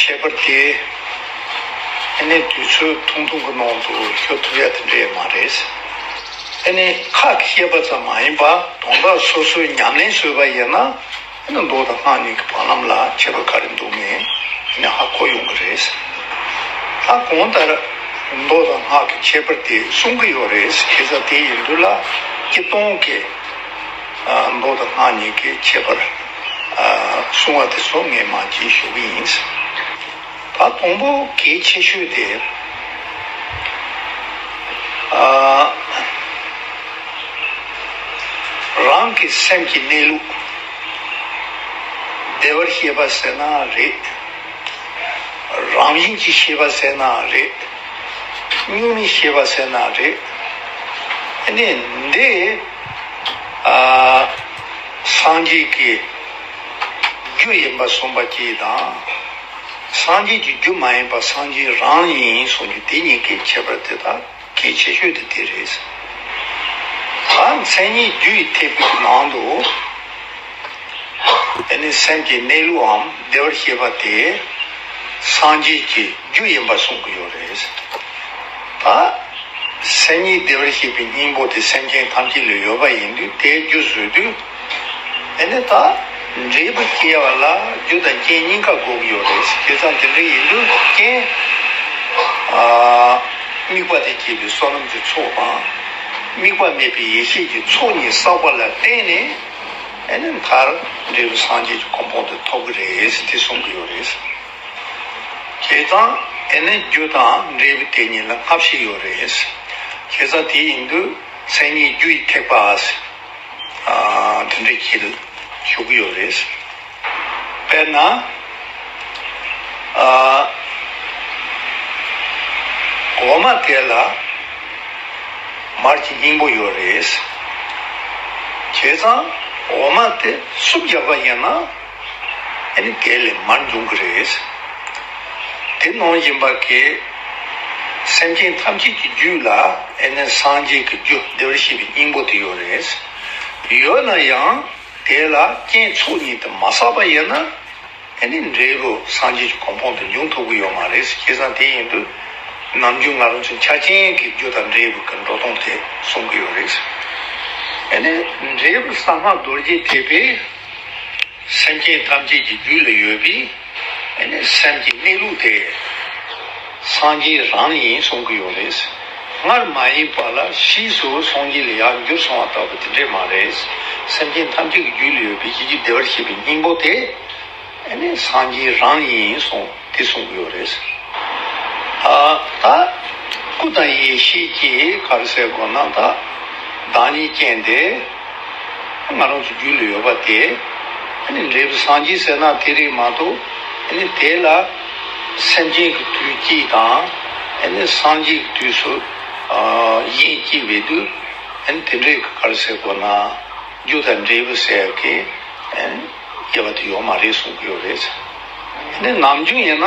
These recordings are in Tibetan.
ཁྱད་པར་དེ་ཨ་ནེ་དུས་ཚོད་ཐུང་ཐུང་གི་ནང་དུ་ཤོད་ཐུབ་ཡ་དེ་འདྲས་མ་རེད། ཨ་ནེ་ཁག་གི་བཤད་པ་ཙམ་མ་ཡིན་པར་དོང་ཁ་སོ་སོའི་ཉམས་ལེན་བཟོས་པ་ཡིན་ན་ཨ་ནེ་མདོག་དང་སྔགས་གཉིས་ཀྱི་བར་ལམ་ལ་ཁྱད་པར་ག་རེ་འདུག་མིན་ཨ་ནེ་ཧ་གོ་ཡོང་གི་རེད། ད་གོང་ལྟར་མདོག་དང་སྔགས་ཀྱི་ཁྱད་པར་དེ་གསུང་གི་ཡོད་རེད་ཁྱེད་ཚ་དེ་ཡིན་དུས་ལ་སྐྱིད་གཏོང་གི། མདོ་དང་སྔགས་གཉིས་ཀྱི་ཁྱད་པར་གསུང་བ་དེ་སོགས་ངས་མ་བགྱིས་ཞུ་གི་ཡིན། ད་དང་པོ་གལ་ཆེ་ཤོས་དེ། རང་གི་སེམས་ཀྱི་གནས་ལུགས་བདེ་བར་ཤེས་པ་ཟེར་ན་རེད། རང་བཞིན་གྱིས་ཤེས་པ་ཟེར་ན་རེད། སྙིང་ནས་ཤེས་པ་ཟེར་ན་རེད། ཨ་ནི་འདི། སངས་རྒྱས་ཀྱི་རྒྱུ་ཡིན་པར་གསུངས་པ་གྱིས་དང། སངས་རྒྱས་ཀྱི་རྒྱུ་མ་ཡིན་པར་སངས་རྒྱས་རང་ཡིན་གསུངས་རྒྱུ་དེ་གཉིས་ཀའི་ཁྱད་པར་དེ་དག་གི་ཁྱད་ཆོས་དེ་དེ་རེད། ད་མཚན་ཉིད་རྒྱུ་ཡི་ཐེག་པའི་ནང་དུ། འདི་ནི་སེམས་ཀྱི་གནས་ལུགས་འམ་བདེ་བར་ཤེས་པ་དེ་སངས་རྒྱས་ཀྱི་རྒྱུ་ཡིན་པར་གསུངས་ཀྱི་ཡོད་རེད། ད་སེམས་ཉིད་བདེ་བར་ཤེས་པའི་སྙིང་པོ་དེ་སེམས་ཅན་ཐམས་ཅད་ལས་ཡོད་པ་ཡིན་དུས་དེའི་རྒྱུ་བཟོས་དུས། དེ་ནི་ད་འབྲས་བུ་སྐྱེ་བ་ལ་རྒྱུ་དང་རྐྱེན་གཉིས་ཀ་དགོས་ཀྱི་ཡོད་རེད། དེ་ཙམ་དེ་འདྲ་ཡིན་དུས་རྐྱེན་དམིགས་པ་དེ་སྐྱེས་པའི་བསོད་ནམས་ཀྱི་ཚོགས་དང། དམིགས་པ་མེད་པའི་ཡེ་ཤེས་ཀྱི་ཚོགས་གཉིས་བསགས་པ་ལ་བརྟེན་ནས། ཨེ་ནས་མཐར་འབྲས་བུ་སངས་རྒྱས་ཀྱི་གོ་འཕང་དུ་ཐོབ་ཀྱི་རེད་དེ་གསུང་གི་ཡོད་རེད། ཁྱེད་ཚང་ཨེ་ནས་རྒྱུ་དང་འབྲས་བུ་དེ་གཉིས་ལ་སྔ་ཕྱི་ཡོད་རེད། ཁྱེད་ཚང་དེ་ཡིན་དུས་མཚན་ཉིད་རྒྱུ་ཡི་ཐེག་པ་འདི་འདྲའི་ཁྱི་ལ་ཞུགས་ཀྱི་ཡོད་རེད། དཔེར་ན། འོ་མ་དེ་ལ་མར་གྱི་སྙིང་པོ་ཡོད་རེད། བྱས་ཙང་འོ་མ་དེ་སུབ་རྒྱག་པ་ཡིན་ན་ཨེ་ནི་དེ་ལས་མར་འབྱུང་གི་རེད། དེ་ནང་བཞིན་པ་གི་སེམས་ཅན་ཐམས་ཅད་ཀྱི་རྒྱུད་ལ་ཨེ་ནི་སངས་རྒྱས་ཀྱི་རྒྱུ་བདེ་བར་གཤེགས་པའི་སྙིང་པོ་དེ་ཡོད་རེད། ཡོད་ན་ཡང། དེ་ལ་རྐྱེན་ཚོགས་གཉིས་དུ་མ་བསགས་པ་ཡིན་ན། དེ་ནི་འབྲས་བུ་སངས་རྒྱས་ཀྱི་གོ་འཕང་དུ་འབྱུང་ཐུབ་ཀྱི་ཡོད་མ་རེད་ཟེར་ཁྱེད་ཚང་དེ་ཡིན་དུས། ནམ་རྒྱུན་ང་རང་ཚོའི་ཆ་རྐྱེན་གྱི་རྒྱུ་དང་འབྲས་བུ་གྱི་འགྲོ་སྟངས་དེ་གསུང་གི་ཡོད་རེད། དེ་ནི་འབྲས་བུ་གསང་སྔགས་རྡོ་རྗེ་ཐེག་པའི་སེམས་ཅན་ཐམས་ཅད་ཀྱི་རྒྱུད་ལ་ཡོད་པས། སེམས་ཀྱི་གནས་ལུགས་དེ་སངས་རྒྱས་རང་ཡིན་གསུང་གི་ཡོད་རེད། སྔར་མ་ཡིན་པ་ལ་ཕྱིས་སུ་སངས་རྒྱས་ལ་ཡར་འགྱུར་སོང་བ་ལྟ་བུ་དེ་འདྲས་མ་རེད། སེམས་ཅན་ཐམས་ཅད་ཀྱི་རྒྱུད་ལ་ཡོད་པའི་གཞི་གྱི་བདེ་བར་གཤེགས་པའི་སྙིང་པོ་དེ་སངས་རྒྱས་རང་ཡིན་གསུང་དེ་གསུང་གི་ཡོད་རེད། ད་སྐུ་དང་ཡེ་ཤེས་ཀྱི་ཁར་གསལ་དགོས་ན་ད་བདག་ཉིད་རྐྱེན་དེ། ང་རང་ཚོ་རྒྱུད་ལ་ཡོད་པ་དེ་ནི་འབྲས་བུ་སངས་རྒྱས་ཟེར་ན་དེ་རེད་མ་གཏོགས་དེ་ལ་སེམས་ཅན་གྱི་དུས་སྐྱིད་དང་སངས་རྒྱས་ཀྱི་དུས་སུ་ཡིད་སྐྱིད་པའི་དུས་དེ་འདྲའི་གར་ཟེར་དགོས་ན་རྒྱུ་དང་འབྲས་བུ་ཟེར་གི་ཡེ་བ་དེ་ཡོད་མ་རེད་གསུང་གི་ཡོད་རེད། ནམ་རྒྱུན་ཡིན་ན།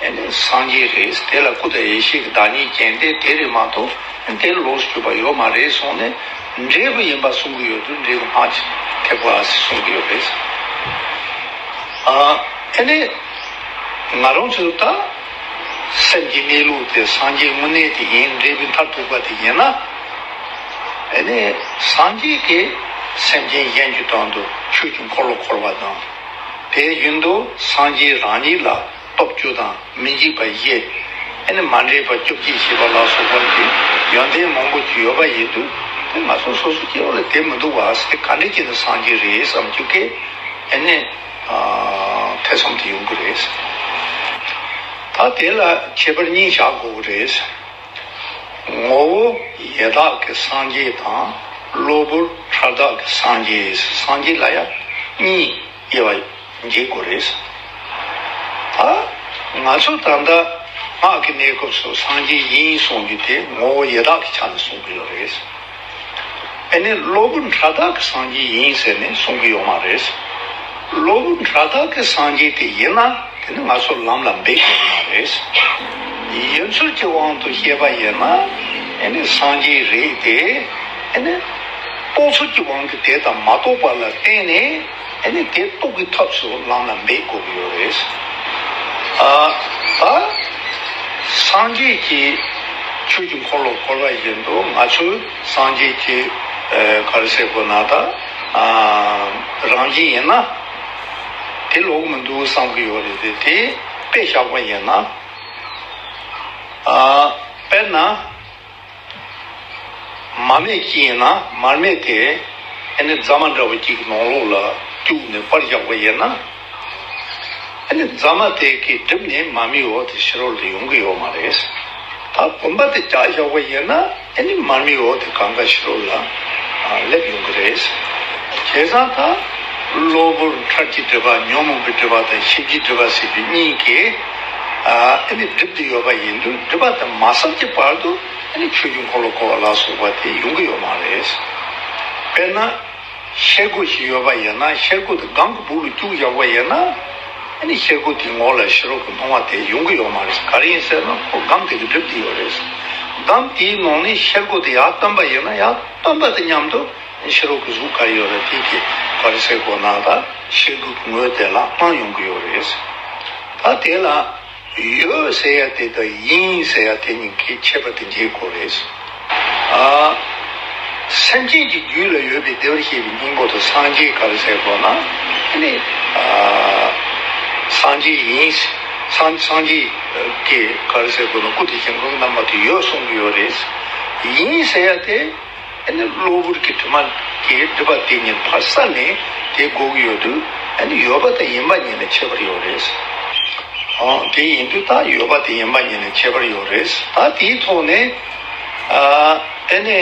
དེ་ནི་སངས་རྒྱས་རེད་དེ་ལ་སྐུ་དང་ཡེ་ཤེས་ཀྱི་བདག་ཉིད་རྐྱེན་དེ་དེ་རེད་མ་གཏོགས་དེ་ལོགས་སུ་གྱུར་པ་ཡོད་མ་རེད་གསུངས་ནས་འབྲས་བུ་ཡིན་པ་གསུང་གི་ཡོད་དུས་འབྲས་བུ་སྔགས་ཀྱི་ཐེག་པ་ཟེར་གསུང་གི་ཡོད་རེད། དེ་ནས་ང་རང་ཚོས་ད་སེམས་ཀྱི་གནས་ལུགས་དེ་སངས་རྒྱས་དངོས་གནས་དེ་ཡིན་འབྲས་བུའི་མཐར་ཐུག་པ་དེ་ཡིན་ན། དེ་ནས་སངས་རྒྱས་ཀྱི་སེམས་ཅན་གཞན་གྱི་དོན་དུ་ཆོས་ཀྱི་འཁོར་ལོ་འཁོར་བ་དང། དེའི་རྒྱུན་དུ་སངས་རྒྱས་རང་ཉིད་ལ། སྟོབས་བཅུ་དང་མི་འཇིགས་པ་བཞི། ཨེ་ནི་མ་འདྲེས་པ་བཅོ་བརྒྱད་ཞེས་པ་ལ་སོགས་པ་འདི་ཡོན་ཏན་མང་པོ་ཡོད་པ་ཡིན་དུས་དེ་ང་ཚོ་སོ་སོ་སྐྱེ་བོ་ལ་དེ་མི་འདུག་བ་སེ་ག་འདྲེ་ཀྱི་ནི་སངས་རྒྱས་རེད་བསམ་རྒྱུ་སྐད་ཨེ་ནི་ཐེ་ཚོམ་དུ་ཡོང་གི་རེད། ད་དེ་ལ་ཁྱད་པར་གཉིས་བཞག་དགོས་ཀྱི་རེད། ངོ་བོ་ཡེ་དག་གི་སངས་རྒྱས་དང་གློ་བུར་ཧྲལ་དག་གི་སངས་རྒྱས་སངས་རྒྱས་ལ་ཡང་གཉིས། དབྱེ་བ་འབྱེད་དགོས་རེད། ཨ། ང་ཚོ་ད་ལྟ་སྔགས་ཀྱི་གནས་སྐབས་སུ་སངས་རྒྱས་དབྱིངས་གསུང་རྒྱུ་དེ་ངོ་བོ་ཡེ་དག་གི་ཆ་ནས་གསུང་གི་ཡོད་རེད། དེ་ནས་སློབ་བུ་འཕྲ་དག་གི་སངས་རྒྱས་དབྱིངས་ཟེར་ནས་གསུང་གི་ཡོད་མ་རེད། སློབ་བུ་འཕྲ་དག་གི་སངས་རྒྱས་དེ་ཡིན་ན་དེ་ནི་ང་ཚོ་ལམ་ལ་འབད་དགོས་ཀྱི་མ་རེད། ཡིན་ཚུལ་གྱི་དབང་དུ་བཤད་པ་ཡིན་ན་དེ་ནི་སངས་རྒྱས་རེད་དེ། རྟོག་ཚུལ་གྱི་དབང་གིས་དེ་དང་མ་རྟོགས་པ་ལ་བརྟེན་ནས་དེ་རྟོགས་ཀྱི་ཐབས་སུ་བླངས་ན་འབད་དགོས་ཀྱི་ཡོད་རེད། སངས་རྒྱས་ཀྱི་ཆོས་ཀྱི་འཁོར་ལོ་བསྐོར་བ་བཞིན་དུ་ང་ཚོས་སངས་རྒྱས་ཀྱི་གར་སའི་སྒོ་ན་ད་རང་བཞིན་ཡིན་ན་དེ་ལོག་གི་མི་འདུག་བསམ་གྱི་ཡོད་རེད་དེ། དེ་དཔེ་བཞག་པ་ཡིན་ན། དཔེར་ན། མར་མེ་སྐྱེས་ཡིན་ན་མར་མེ་དེ་ཨེ་ནི་རྫ་མ་འདྲ་བོ་གཅིག་གི་ནོང་ལོགས་ལ་བཅུག་ནས་པར་བཞག་པ་ཡིན་ན། ཨེ་ནི་རྫ་མ་དེ་གི་གྲིབ་ནི་མར་མེའི་འོག་ཏུ་ཕྱི་རོལ་ཏུ་ཡོང་གི་ཡོད་མ་རེད། ད་བུམ་པ་དེ་བརྒྱག་བཞག་པ་ཡིན་ན་ཨེ་ནི་མར་མེའི་འོག་ཏུ་གང་དགའ་ཕྱི་རོལ་ལ་སླེབས་ཡོང་གི་རེད། བྱས་ཙང་ད་གློ་བུར་འཁྲབ་ཀྱི་འདྲེས་པ་ཉོན་མོངས་པའི་འདྲེས་པ་དང་ཞིབ་ཀྱི་འདྲེས་པ་ཟེར་རྒྱུ་གཉིས་ཀྱི། ཨ་ནི་བསྒྲིབས་ཏེ་ཡོད་པ་ཡིན་དུས་བསྒྲིབས་པ་དེ་མ་སོབ་ཀྱི་བར་དུ་ཨ་ནི་ཆོས་རྒྱུན་འཁོར་ལོ་བསྐོར་བ་ལ་སོགས་པ་དེ་ཡོང་གི་ཡོད་མ་རེད། དཔེར་ན། ཤེལ་སྒོ་ཞིག་ཡོད་པ་ཡིན་ན་ཤེལ་སྒོ་དེ་སྒང་གི་སྦུག་ལ་བཅུག་བཞག་པ་ཡིན་ན། ཨ་ནི་ཤེལ་སྒོ་དེའི་ངོགས་ལ་ཤི་རོག་གི་སྣང་བ་དེ་ཡོང་གི་ཡོད་མ་རེད། ག་རེ་ཡིན་ཟེར་ན་ཁོ་སྒམ་དེ་གི་བསྒྲིབས་ཏེ་ཡོད་རེད། སྒམ་དེའི་ནང་ནས་ཤེལ་སྒོ་དེ་ཡར་བཏོན་པ་ཡིན་ན་ཡར་བཏོན་པ་དང་མཉམ་དུ་ཕྱི་རོལ་གྱི་གཟུགས་ག་རེ་ཡོད་རེད་དེའི་གི་བར་ཟེར་དགོས་ན་ད་ཤེལ་སྒོའི་གི་ངོས་དེ་ལ་སྤང་ཡོང་གི་ཡོད་རེད། ད་དེ་ལ་ཡོད་ཟེར་ཡ་དེ་དང་ཡིན་ཟེར་ཡ་དེ་གཉིས་ཀྱི་ཁྱད་པར་དེ་འབྱེད་དགོས་རེད། སེམས་ཅན་གྱི་རྒྱུད་ལ་ཡོད་པའི་བདེ་བར་གཤེགས་པའི་སྙིང་པོ་དང་སངས་རྒྱས་ག་རེ་ཟེར་དགོས་ན་དེ་ནི་སངས་རྒྱས་ཡིན། སངས་རྒྱས་ཀྱི་ག་རེ་ཟེར་དགོས་ན་སྐུ་དེ་བྱིང་རྒོད་རྣམ་པ་དེ་ཡོད་གསུང་གི་ཡོད་རེད། ཡིན་ཟེར་ཡ་དེ། ཨ་ནི་གློ་བུར་གྱི་དུས་མ་དེའི་དུས་བབ་དེ་ཉིན་ཕར་ས་ནས་དེ་དགོས་ཀྱི་ཡོད་དུས་ཨ་ནི་ཡོད་པ་དེ་ཡིན་པ་ཉིད་ལས་ཁྱད་པར་ཡོད་རེད། ཨང་དེ་ཡིན་དུས་ད་ཡོད་པ་དེ་ཡིན་པ་ཉིད་ལས་ཁྱད་པར་ཡོད་རེད། ད་དེའི་ཐོག་ནས་ཨ་ནི་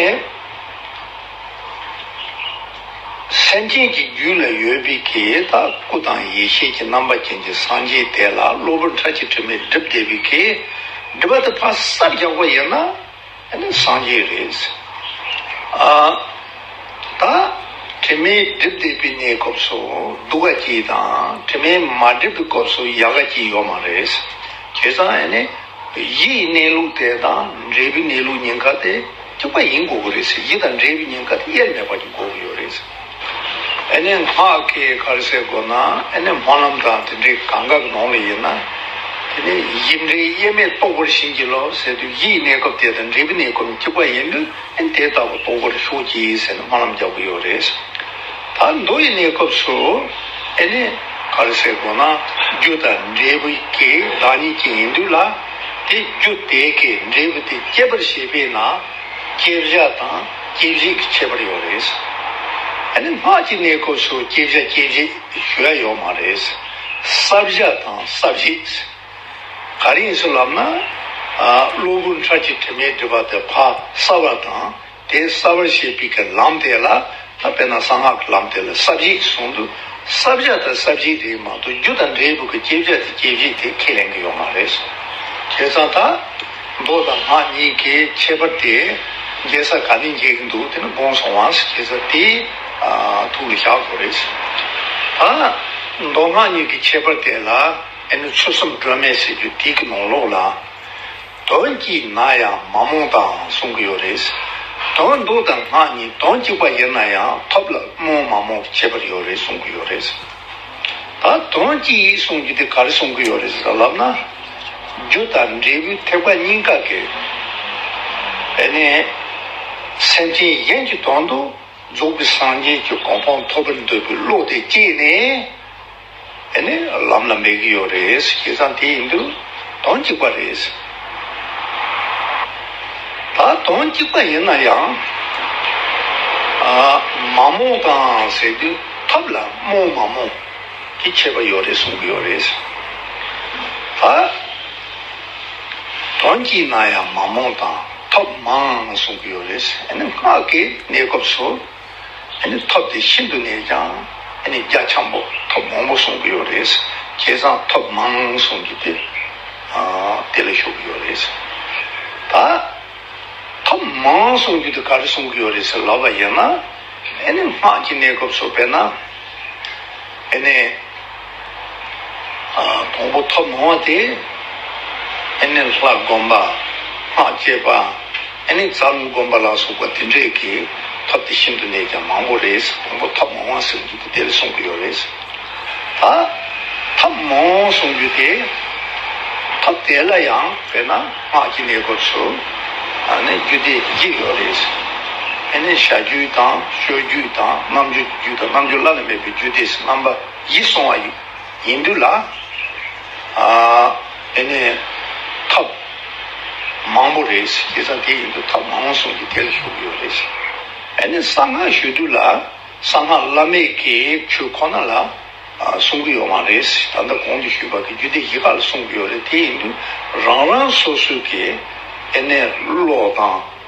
སེམས་ཅན་གྱི་རྒྱུད་ལ་ཡོད་པའི་གེའི་ད་སྐུ་དང་ཡེ་ཤེས་ཀྱི་རྣམ་པ་ཅན་གྱི་སངས་རྒྱས་དེ་ལ་གློ་བུར་ཁྲ་ཆིལ་དྲི་མས་བསྒྲིབས་བསྡད་པའི་གེ་སྒྲིབ་པ་དེ་ཕར་སར་རྒྱག་པ་ཡིན་ན། དེ་ནི་སངས་རྒྱས་རེད། ཨ་ད། དྲི་མས་བསྒྲིབས་བསྡད་པའི་གནས་སྐབས་སུ་སྡུག་ག་སྐྱིད་དང་དྲི་མས་མ་བསྒྲིབས་པའི་སྐབས་སུ་ཡག་ག་སྐྱིད་ཡོད་མ་རེད། དེ་ཙམ་ཡིན་ནས་ཡིད་ཡི་གནས་ལུགས་དེ་དང་འབྲས་བུའི་གནས་ལུགས་ཉེན་ཁ་དེ་གཅིག་པ་ཡིན་དགོས་ཀྱི་རེད། ཡིད་དང་འབྲས་བུའི་ཉེན་ཁ་དེ་དབྱེར་མེད་པར་གྱི་དགོས་ཀྱི་ཡོད་རེད། ཨེ་ནས་སྔགས་ཀྱི་ཁར་ཟས་དགོས་ན་ཨེ་ནས་སྨོན་ལམ་དང་དེ་འདྲའི་གང་དགའ་གནང་ལ་ཡིན་ན། དེ་ནས་ཡིད་འབྲེལ་དབྱེར་མེད་རྟོགས་པར་བྱིན་གྱིས་ལོ་ཟེར་དུས་ཡིད་གནས་སྐབས་དེ་དང་འབྲས་བུ་གནས་སྐབས་འཇིག་པ་ཡིན་དུས་ཨེ་དེ་ལྟ་བུ་རྟོགས་པར་ཤོག་ཅིག་ཟེར་ནས་སྨོན་ལམ་རྒྱག་གི་ཡོད་རེད། ད་མདོ་ཡི་གནས་སྐབས་སུ་ཨེ་ནས་ཁར་ཟས་དགོས་ན་རྒྱུ་དང་འབྲས་བུ་གྱི་བདག་ཉིད་ཅིག་ཡིན་དུས་ལ། དེ་རྒྱུ་དེ་གའི་འབྲས་བུ་དེ་སྐྱེད་པར་བྱེད་པས་ན། སྐྱེ་བཞག་དང་སྐྱེ་བཞི་གི་ཁྱད་པར་ཡོད་རེད། ཨ་ནི་སྔགས་ཀྱི་གནས་སྐབས་སུ་སྐྱེ་བཞག་སྐྱེ་བཞི་ཞུ་ཡ་ཡོད་མ་རེད། བསགས་བཞག་དང་བསགས་བཞི། ག་རིང་སུ་ལབ་ན། གློ་བུར་འཕྲལ་གྱི་དྲི་མའི་སྒྲིབ་པ་དེ་ཕ་བསགས་པ་དང་དེ་བསགས་པར་བྱེད་པའི་ལམ་དེ་ལ་དཔེར་ན་གསང་སྔགས་ཀྱི་ལམ་དེ་ལ་ས་བརྗིད་ཅེས་གསུངས་འདུག་ས་བཞག་དང་ས་བརྗིད་དེའི་མང་དུ་རྒྱུ་དང་འབྲས་བུ་གི་བསྐྱེད་བྱ་དེ་སྐྱེད་བྱེད་དེ་ཁས་ལེན་གྱི་ཡོད་མ་རེད། བྱས་ཙང་ད། མདོ་དང་སྔགས་གཉིས་ཀའི་ཁྱད་པར་དེ། འགལ་ས་ག་ནས་འགལ་གྱི་འདུག་དེ་ནི་དགོངས་སུ་དབང་ཟེར་བྱས་ཙང་དེའི། ཐུགས་ལ་བཞག་དགོས་རེད། ད། མདོ་སྔགས་གཉིས་ཀྱི་ཁྱད་པར་དེ་ལ། ཨེ་ནི་ཆུ་སྲུམ་སྒྲོན་མེ་ཟེར་རྒྱུ་དེའི་གི་ནང་ལོགས་ལ། དོན་གྱིས་ན་ཡང་མ་རྨོངས་དང་གསུང་གི་ཡོད་རེད། དོན་སྡུག་དང་སྔགས་གཉིས་དོན་གཅིག་པ་ཡིན་ན་ཡང་ཐོབ་ལ་རྨོངས་མ་རྨོངས་ཁྱད་པར་ཡོད་རེད་གསུང་གི་ཡོད་རེད། ད་དོན་གཅིག་ཡིན་གསུང་རྒྱུ་དེ་ག་རེ་གསུང་གི་ཡོད་རེད་ཟེར་ལབ་ན། རྒྱུ་དང་འབྲས་བུའི་ཐེག་པ་གཉིས་ཀ་གི། དེ་ནས་སེམས་ཅན་གཞན་གྱི་དོན་དུ་རྫོགས་པའི་སངས་རྒྱས་ཀྱི་གོ་འཕང་ཐོབ་པར་འདོད་པའི་བློ་དེ་སྐྱེས་ནས། དེ་ནས་ལམ་ལ་འབད་ཀྱི་ཡོད་རེད་བྱས་ཙང་དེ་ཡིན་དུས་དོན་གཅིག་པ་རེད། ད་དོན་གཅིག་པ་ཡིན་ན་ཡང། མ་རྨོངས་དང་ཟེར་དུས་ཐབས་ལ་རྨོངས་མ་རྨོངས་ཀྱི་ཁྱད་པ་ཡོད་རེད་གསུང་གི་ཡོད་རེད། ད་དོན་གཅིག་ན་ཡང་མ་རྨོངས་དང་ཐབས་མང་གསུང་གི་ཡོད་རེད། དེ་ནས་སྔགས་ཀྱི་གནས་སྐབས་སུ། ཐོབ་དེ་ཤིན་ཏུ་ནས་ཀྱང་རྒྱ་ཆེན་པོ་ཐོབ་མང་པོ་གསུང་གི་ཡོད་རེད། བསྐལ་བཟང་ཐོབ་མང་གསུང་གི་དེ་དེ་ལ་ཞུགས་ཀྱི་ཡོད་རེད། ད་ཐོབ་མང་གསུང་རྒྱུ་དེ་ག་རེ་གསུང་གི་ཡོད་རེད་ཟེར་ལབ་པ་ཡིན་ན། སྔགས་ཀྱི་གནས་སྐབས་སུ་དཔེར་ན། བོང་བུ་ཐོག་མང་བ་དེ། ཨེ་ནས་ལྷ་བསྒོམ་པ། སྔགས་སྐྱེས་པ། ཨེ་ནས་ཛམ་བསྒོམ་པ་ལ་སོགས་པ་དེ་འདྲས་ཀྱི་ཐབས་དེ་ཤིན་ཏུ་ནས་ཀྱང་མང་པོ་རེད། བོང་བུ་ཐོག་མང་བ་ཟེར་རྒྱུ་དེ་དེ་ལ་གསུངས་ཀྱི་ཡོད་རེད། ད་ཐབས་མང་བོ་གསུངས་རྒྱུ་དེ། ཐབས་དེ་ལ་ཡང་དཔེར་ན་སྔགས་ཀྱི་གནས་སྐབས་སུ། ཨ་ནས་རྒྱུད་སྡེ་བརྒྱད་ཡོད་རེད། ཨེ་ནས་བྱ་རྒྱུད་དང་ཤོད་རྒྱུད་དང་རྣམ་འབྱོར་གྱི་རྒྱུད་དང་རྣམ་འབྱོར་བླ་ན་མེད་པའི་རྒྱུད་སྡེ་རྣམ་པ། ཡིད་སོང་བ་ཡིན་འདུག་ལ། དེ་ནས་ཐབས་མང་པོ་རེད་ཟེར་ས་དེ་ཡིན་འདུག་ཐབས་མང་བོ་གསུངས་ཏེ་དེ་ལ་ཞུགས་ཀྱི་ཡོད་རེད་ཟེར། དེ་ནས་གསང་སྔགས་ཞུས་འདུག་ལ་གསང་སྔགས་བླ་མེད་ཀྱི་ཆོས་ཁོ་ན་ལ་གསུང་གི་ཡོད་མ་རེད་ཟེར་ད་ལྟ་གོང་དུ་ཞུས་པ་གི་རྒྱུད་སྡེ་བཞི་ཀ་ལ་གསུང་གི་ཡོད་རེད་དེ་ཡིན་འདུག་རང་རང་སོ་སོའི་གི་དེ་ནས་བློ་དང།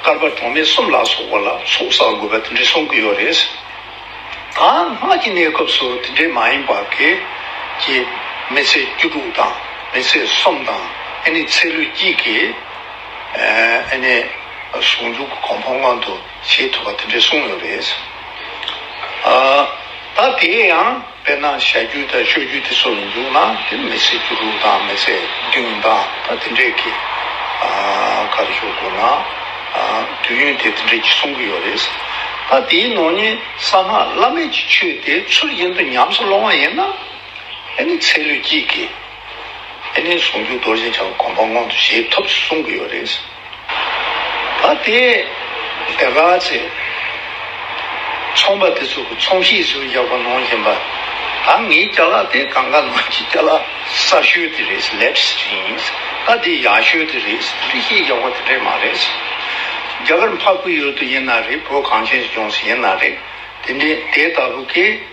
དཀར་པ་གྲོང་སྨད་གསུམ་ལ་སོགས་པ་ལ་ཚོགས་བསགས་དགོས་པ་དེ་འདྲའི་གསུང་གི་ཡོད་རེད། ད་སྔགས་ཀྱི་གནས་སྐབས་སུ་དེ་འདྲའི་མ་ཡིན་པ་གེ། ཀྱེ། མི་ཚེ་བཅུ་དྲུག་དང་མི་ཚེ་གསུམ་དང་ཨེ་ནི་ཚེ་ལུས་གཅིག་གིས། ཨེ་ནི། ཟུང་འཇུག་གི་གོང་འཕང་མངོན་དུ་བྱེད་ཐུབ་པ་དེ་འདྲའི་གསུང་ཡོད་རེད། ད་དེའི་ཡང། དཔེར་ན་བྱ་རྒྱུད་དང་སྤྱོད་རྒྱུད་དེ་ཚོ་མི་འདུག་ན་དེ་མི་ཚེའི་འགྱུར་ལུགས་དང་མི་ཚེ་འདི་འདྲ་དང་དེ་འདྲས་ཀྱི་ཁར་འཇོག་དགོས་ན་དུས་ཡུན་དེ་དེ་འདྲས་ཀྱི་སོང་གི་ཡོད་རེད། ད་དེའི་ནང་ནས་གསང་སྔགས་བླ་མེད་ཀྱི་ཆོས་དེ་ཚུར་གཞན་དུ་ཉམས་སུ་སློང་བ་ཡིན་ན་ཨེ་ནི་ཚེ་ལུས་སྐྱིད་ཀྱི་ཨེ་ནི་ཟུང་འཇུག་རྡོ་རྗེ་འཆང་གི་དགོངས་པ་མངོན་དུ་བྱེད་ཐུབ་ཅེས་གསུང་གི་ཡོད་རེད། ད་དེ་དེ་ག་ཚེ། ཚོང་པ་དེ་ཚོ་གི་ཚོང་གཤིས་སུ་ཡག་པོ་གནང་བཞིན་པ། ད་ངའི་སྐྱ་ལག་དེ་གང་ག་ནང་གི་སྐྱ་ལག་གསར་ཤོས་དེ་རེད་ལེགས་སུ་ཡིན། ད་དེ་ཡག་ཤོས་དེ་རེད་འདུག་ཤེས་ཡག་པོ་དེ་འདྲས་མ་རེད། རྒྱ་གར་འཕགས་བོད་ཡུལ་དུ་ཡིན་ན་རེད་བོད་གངས་ཅན་སུ་ཡོང་སུ་ཡིན་ན་རེད་དེ་འདྲས་དེ་ལྟ་བུ་གི།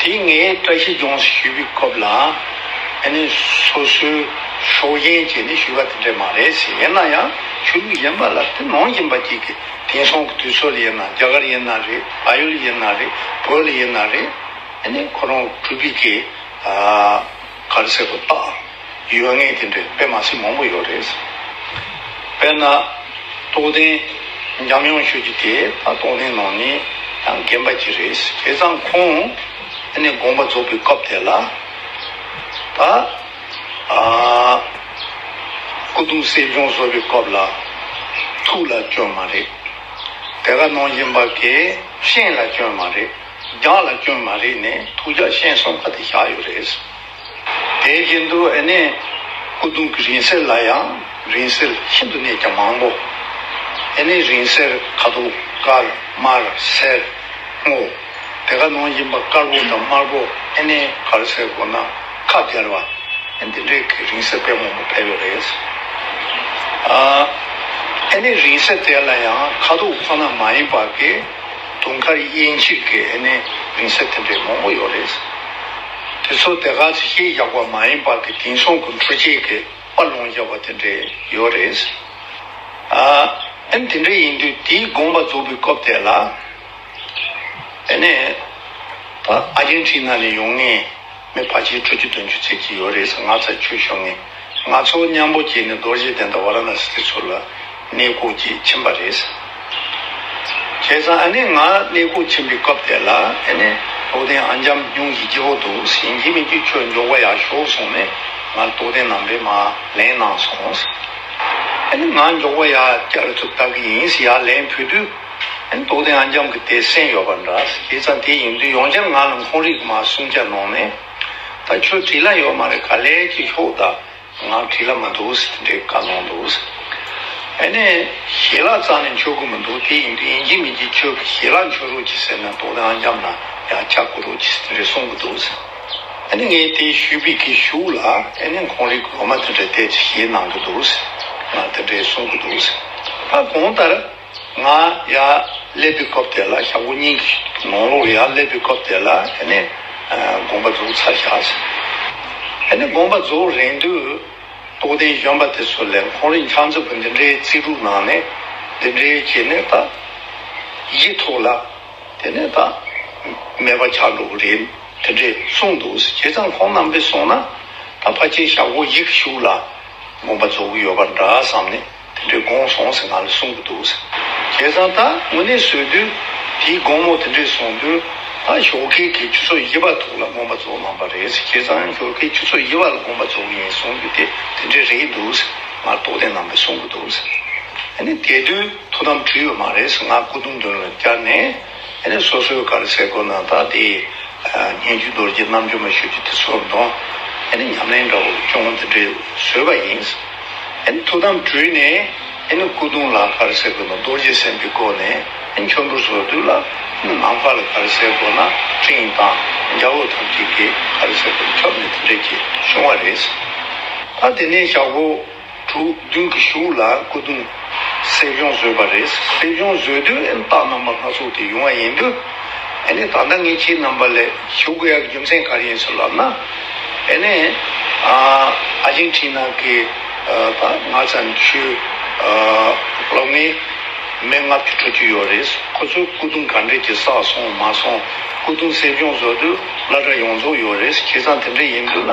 དེས་ངས་བཀྲ་ཤིས་ལྗོངས་སུ་ཞུས་པའི་སྐབས་ལ། ཨ་ནི་སོ་སོའི་ཕྱོགས་ཞེན་བྱས་ནས་ཞུས་པ་དེ་འདྲ་མ་རེད་ཟེར། ཡིན་ན་ཡང་ཆོས་ལུགས་གཞན་པ་ལ་དེ་ནང་བཞིན་པ་གཅིག་གིས་དེང་སང་གི་དུས་ཚོད་ལ་དབྱེ་ན་རྒྱ་གར་ཡིན་ན་རེད་ཕ་ཡུལ་ཡིན་ན་རེད་བོད་ལ་ཡིན་ན་རེད། ཨ་ནི་ཁོ་རང་གྲུབ་པའི་གེགས། གར་བྱེད་པོ་དག་ཡོད་ངེས་དེ་འདྲའི་དཔེ་མ་ཞིག་མང་པོ་ཡོད་རེད། དཔེར་ན། རྟོགས་ལྡན་འཇམ་དབྱངས་ཆོས་ཀྱི་དེ་ད་རྟོགས་ལྡན་ནང་ནས་ཡང་རྒན་པ་གྱི་རེད་བྱས་ཙང་ཁོང་དེ་ནས་དགོངས་པ་རྫོགས་པའི་སྐབས་དེ་ལ། ད་ཨ། སྐུ་གདུང་གསེར་ལྗོངས་བཟོ་བའི་སྐབས་ལ། ཐུགས་ལ་སྐྱོན་མ་རེད། དེ་ག་ནང་བཞིན་པ་གས་ཤེས་ལ་སྐྱོན་མ་རེད། རྒྱང་ལ་སྐྱོན་མ་རེད་ནས་ཐུགས་རྒྱག་ཤན་སོང་ཁ་དེ་བཞག་ཡོད་རེད། དེའི་རྗེས་འདུག་ཨེ་ནས་སྐུ་གདུང་གི་རིང་སེར་ལ་ཡང་རིང་སེར་ཤིན་ཏུ་ནས་ཀྱང་མང་པོ། ཨེ་ནས་རིང་སེར་ཁ་དོག་དཀར་དམར་སེར་སྔོ། དེ་ག་ནང་བཞིན་པ་དཀར་པོ་དང་དམར་པོ་ཨེ་ནས་དཀར་སེར་སྒོ་ནག་ཁ་སྦྱར་བ། ཨེ་འདི་འདྲའི་གི་རིང་སེར་དཔེ་མང་པོ་ཕེབས་ཡོད་རེད། ཨེ་ནས་རིང་སེར་དེ་ལ་ཡང་ཁ་དོག་ཁོ་ན་མ་ཡིན་པ་གི། དུང་དཀར་དབྱིན་ཇི་གི་ཨེ་ནས་མིང་སྲིང་འཐེན་པའི་མང་པོ་ཡོད་རེད། དེ་ཚོ་དེ་ག་ཚོད་ཤེས་བཞག་པ་མ་ཡིན་པར་གི་དེང་སང་གི་འཕྲུལ་ཆས་གི་དཔའ་ལུང་བརྒྱབ་པ་དེ་འདྲས་ཡོད་རེད། ཨ་ཨེ་དེ་འདྲས་ཡིན་དུས་དེའི་དགོངས་པ་རྫོགས་པའི་སྐབས་དེ་ལ་ཨེ་ནས་ཨ་རྒྱན་ཁྲིན་ན་ནས་ཡོང་ངེས། མི་བར་ཆད་ཁྲོ་བཅུ་དོན་བཅུ་ཚེ་གཅིག་ཡོ་རེ་ས་ལྔ་ཚར་ཆུད་ཤོག་ངས་སྔ་ཚོགས་མཉམ་པོ་བྱས་ནས་རྡོ་རྗེ་གདན་དང་བ་ར་ན་སི་ཏི་ཚུར་ལ་གནས་བསྐོག་ཅིག་ཕྱིན་པ་རེད། བྱས་ཙང་ཨ་ནེ་ང་གནས་བསྐོག་ཕྱིན་པའི་སྐབས་དེ་ལ་ཨ་ནེ་རྡོག་ལྡན་ཨ་འཇམ་སྙུང་གཞི་སྐྱིད་པོ་འདུག་ཟིན་གྱི་མི་འགྱུར་ཁྱོད་འཇོག་པ་ཡག་ཤོག་གསུངས་ནས་ང་ལ་རྡོག་ལྡན་ནང་པའི་མ་ལན་གནང་སོང། ཨ་ནེ་ང་འཇོག་པ་ཡག་སྐྱ་རེ་ཚུར་བཏབ་ཀྱི་ཡིན་ཡག་ལན་ཕུལ་དུས། རྟོགས་ལྡན་ཨ་འཇམ་གྱི་དད་སེམས་ཡོད་པ་འདྲ། དེ་ཙམ་དེ་ཡིན་དུས་ཡོངས་ཁྱབ་ངང་ལ་འཁོར་རིགས་མ་གསུང་སྐྱར་གནོང་ནས། ད་ཁྱོད་བྲིས་ལ་ཡོད་མ་རེད་ག་ལེར་གྱིས་ཤོག་ད་ང་བྲིས་ལ་མ་འདུག་ཟེར་འདྲེ་བཀའ་གནང་འདུག། ཨེ་ནས། ཞལ་ལག་གཙང་ནས་འཆོས་དགོས་མི་འདུག་དེ་ཡིན་དུས་ཡིན་གྱི་མིན་གྱི་ཁྱོད་ཀྱི་ཞལ་ལག་འཆོས་རོགས་གྱིས་ཟེར་ན་རྟོགས་ལྡན་ཨ་འཇམ་ལ་ཡང་ཆ་བསྐུར་རོགས་གྱིས་ཟེར་འདྲེ་གསུང་གི་འདུག། ཨེ་ནས་ངས་དེ་ཞུས་པའི་གི་ཞུགས་ལ་ཨེ་ནས་འཁོར་རིགས་ཀྱི་ལོ་མ་དེ་འདྲ་དད་ཅིག་ཞེས་གནང་གི་འདུག། ང་དེ་འདྲས་གསུང་གི་འདུག། ད་གོང་ལྟར། ང་ཡར་སླེབས་པའི་སྐབས་དེ་ལ་ཞང་ཀོ་གཉིས་ཀྱིས་ནོང་ལོག་ཡར་སླེབས་པའི་སྐབས་དེ་ལ་དགོན་པ་འཛུགས་ཚར་བཞག་ཟེར། དགོན་པ་འཛུགས་རན་དུས་རྟོགས་ལྡན་གཞོན་པ་དེ་ཚོ་ལས་ཁོང་རིན་ཆང་ཚོས་འདི་འདྲའི་རྩིས་དྲུག་ནང་ནས་འདི་འདྲའི་བྱས་ནས་ད་ཡིད་ཐུག་ལ། དེ་ནས་ད་མེད་པ་ཆགས་འགྲོ་གི་རེད་དེ་འདྲས་གསུངས་འདུག་ཟེར་བྱས་ཙང་ཁོང་རྣམ་པས་གསུངས་ན་ད་ཕ་ཆེན་ཞང་ཀོ་ཡིག་ཞུགས་ལ་དགོན་པ་འཛུགས་གི་ཡོད་པ་འདྲ་བསམ་ནས། དེ་འདྲའི་དགོངས་སོང་ཟེར་ང་ལ་གསུང་གི་འདུག་ཟེར། ཁྱེད་ཚང་ད་དངོས་གནས་བཟོས་དུས་དེའི་དགོངས་མོ་དེ་འདྲས་སོང་དུས་ད་ཞོགས་ཁའི་གི་ཆུ་ཚོད་དབྱེ་བ་དུག་ལ་དགོངས་པ་རྫོགས་གནང་པ་རེད་ཟེར་ཁྱེད་ཚང་ཞོགས་ཁའི་ཆུ་ཚོད་དབྱེ་བ་ལ་དགོངས་པ་རྫོགས་ཡིན་གསུང་རྒྱུ་དེ་དེ་འདྲས་རེད་འདུག་ཟེར་ང་ལ་རྟོགས་ལྡན་རྣམ་པས་གསུང་གི་འདུག་ཟེར། ཨ་ནི་དེ་དུས་ཐུགས་དམ་དྲིལ་ཡོད་མ་རེད་ཟེར་ང་སྐུ་གདུང་འདོན་ལ་བསྐྱར་ནས། དེ་ནས་སོ་སོའི་གར་ཚེ་སྒོ་ནང་དག་དེས། སྙན་བརྒྱུད་རྡོ་རྗེ་རྣམ་འབྱོར་མ་ཤོད་ཀྱི་དེ་ཚོར་གདོན། དེ་ནི་ཉམས་ལེན་འདྲ་བོ་ཅུང་འདི་འདྲས་བཟོས་པ་ཡིན། དེ་ནི་ཐུགས་དམ་དྲུད་ནས། དེ་ནི་སྐུ་གདུང་ལ་གར་ཚེ་སྒོ་ན་རྡོ་རྗེ་སེམས་ཀྱི་སྒོ་ནས་དེ་ནི་འཕྱོར་འབུར་སོགས་བསྡུས་ལ། དེ་ནི་ནམ་མཁའ་ལ་གར་ཚེ་སྒོ་ན་སྤྲིན་དང་རྒྱ་བོ་ཐམས་ཅད་ཀྱིས་གར་ཚེ་སྒོ་ན་ཁྱབ་ནས་དེ་འདྲས་ཀྱིས་བྱུང་བ་རེད། ད་དེ་ནས་ཞག་པོ། དྲུག་བདུན་གྱི་གཞུག་ལ་སྐུ་གདུང། སེར་ལྗོངས་བཟོས་པ་རེད། སེར་ལྗོངས་བཟོས་དུས་ཨེ་རྟགས་རྣམ་པ་སྣ་ཚོགས་དེ་ཡོང་བ་ཡིན་དུས། ཨེ་ནས་ད་ལྟ་ངས་ཁྱིའི་རྣམ་པ་ལས་བྱུག་དགོས་ཡ་གི་རྒྱུ་མཚན་ག་རེ་ཡིན་སོགས་ལབ་ན། ཨེ་ནས། ཨ་ཇིན་ཁྲི་ན་གི་ད་ང་བཙན་བྱོལ་ལོ་ལྔའི་མེ་ལྔ་བཅུ་དྲུག་ཅུ་ཡོད་རེད། ཁོ་ཚོའི་སྐུ་གདུང་ག་འདྲས་ཀྱི་བསགས་སོང་མ་སོང། སྐུ་གདུང་སེར་ལྗོངས་བཟོ་དུས་བླ་གྲྭ་ཡོངས་རྫོགས་ཡོད་རེད། ཁྱེད་ཚང་དེ་འདྲས་ཡིན་དུས་ན།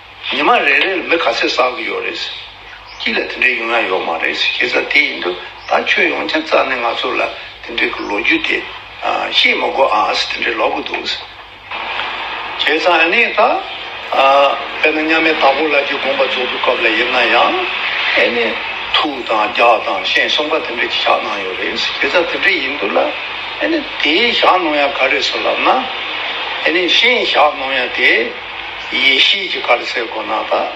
ཉི་མ་རེ་རེར་མི་ག་ཚོད་བསགས་ཀྱི་ཡོད་རེད། སྐྱིད་ལ་དེ་འདྲའི་ཡུལ་ན་ཡོད་མ་རེད་ཤེས་ཚ་དེ་ཡིན་དུས་ད་ཁྱོད་ཡོང་ཁྱབ་རྩ་ནས་ང་ཚོ་ལ་དེ་འདྲའི་གི་ལོ་རྒྱུས་དེ་ཤེས་མི་དགོས་ཨ་ཨཱས་དེ་འདྲའི་ལོག་གི་འདུག། ཁྱེད་ཚ་ཨ་ནེ་ད་དཔེར་ན་མཉམ་མེད་དྭགས་པོ་ལགས་ཀྱི་དགོངས་པ་རྫོགས་པའི་སྐབས་ལ་ཡིན་ན་ཡང་ཨེ་ནེ། ཐུག་དང་རྒྱག་དང་ཤེས་གསུམ་ཀ་དེ་འདྲའི་གི་བཞག་གནང་ཡོད་རེད་ཤེས་ཚ་དེ་འདྲའི་ཡིན་དུས་ལ་ཨེ་ནེ་དེའི་བཞག་གནང་ཡ་ག་རེད་སོ་ལབ་ན་ཨེ་ནེ་ཤེས་བཞག་གནང་ཡ་དེ། ཡེ་ཤེས་ཀྱི་དཀར་གསལ་སྒོ་ནག་དག།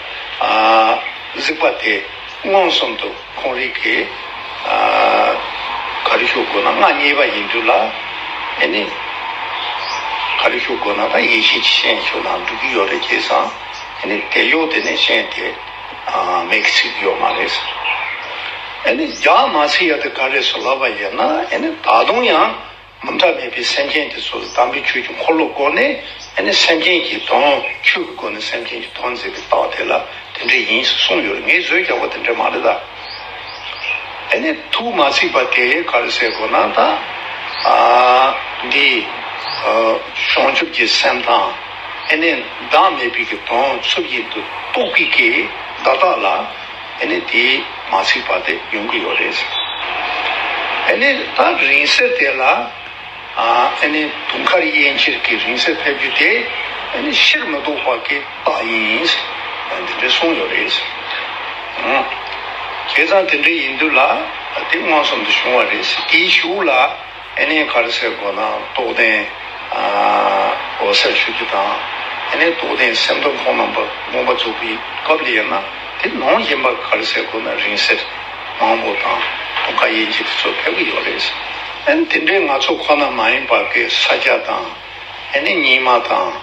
གཟིགས་པ་དེས་མངོན་སུམ་དུ་ཁོང་རིག་གི། གར་བཞུགས་སྒོ་ནག་མངའ་བརྙེས་པ་ཡིན་འགྱུར་ལ། དེ་ནི་གར་བཞུགས་སྒོ་ནག་དག་ཡེ་ཤེས་ཀྱི་ཤན་ཞུགས་ན་འགྲུབ་ཀྱི་ཡོད་རེད་ཅེས་སམ། དེ་ནི་དེ་གཡོག་དེ་ནས་ཤན་དེ་མེད་ཀི་ཚིག་ཡོད་མ་རེད། རྒྱ་མ་ཚིག་ཡག་དེ་ག་རེ་སུ་ལབ་པ་ཡིན་ན་ད་དུང་ཡང། མུ་མཐའ་མེད་པའི་སེམས་ཅན་དེ་ཚོ་དམ་པའི་ཆོས་ཀྱི་འཁོར་ལོ་སྒོ་ནས་ཨེ་ནས་སེམས་ཅན་གྱི་དོན་ཆོས་ཀྱི་སྒོ་ནས་སེམས་ཅན་གྱི་དོན་མཛད་པའི་རྟགས་དེ་ལ་དེ་འདྲས་ཡིན་ཞེས་གསུངས་ཡོད་རེད་ངས་བཟོས་ཀྱང་བ་དེ་འདྲས་མ་རེད་ད། ཨེ་ནས་ཐུགས་མ་ཚིག་པ་དེ་ག་རེ་ཟེར་དགོས་ན་ད། འདི་བྱང་ཆུབ་ཀྱི་སེམས་དང་ཨེ་ནས་བདག་མེད་པའི་གི་དོན་ཚུལ་བཞིན་དུ་རྟོགས་པའི་གི་བདག་དག་ལ་ཨེ་ནས་དེ་མ་ཚིག་པ་དེ་ཡོང་གི་ཡོད་རེད་ཟེར། ཨེ་ནས་ད་རིང་བསྲེལ་དེ་ལ་ཨེ་ནས་དུང་དཀར་དབྱེ་འཁྱེར་གྱི་རིང་བསྲེལ་ཕེབས་རྒྱུ་དེ་ཨེ་ནས་ཕྱིར་མི་ལྡོག་པ་གི་རྟགས་ཡིན་ཟེར་དེ་འདྲས་གསུངས་ཡོད་རེད་ཟེར། ཁྱེད་ཚང་དེ་འདྲས་ཡིན་དུས་ལ་དེ་མངོན་སུམ་དུ་བྱུང་བ་རེད་ཟེར་དེའི་གཞུག་ལ། ཨེ་ནས་གར་ཚེ་སྒོ་ནག་རྟོགས་ལྡན་འོད་གསལ་ཆོས་སྡེ་དང། ཨེ་ནས་རྟོགས་ལྡན་སེམས་སྟོང་ཁོང་རྣམ་པ་དགོངས་པ་རྫོགས་པའི་སྐབས་དེ་ཡིན་ན་དེ་ནང་བཞིན་པ་གར་ཚེ་སྒོ་ནག་རིང་བསྲེལ་མང་པོ་དང་དུང་དཀར་ཡེ་འཇིགས་དེ་ཚོ་ཕེབས་ཀྱི་ཡོད་རེད། ཨེ་ནས་དེ་འདྲའི་ནག་ཚོ་ཁོ་ན་མ་ཡིན་པ་ཀེ་ས་སྐྱ་དང་ཨེ་ནས་ཉིན་མ་དང།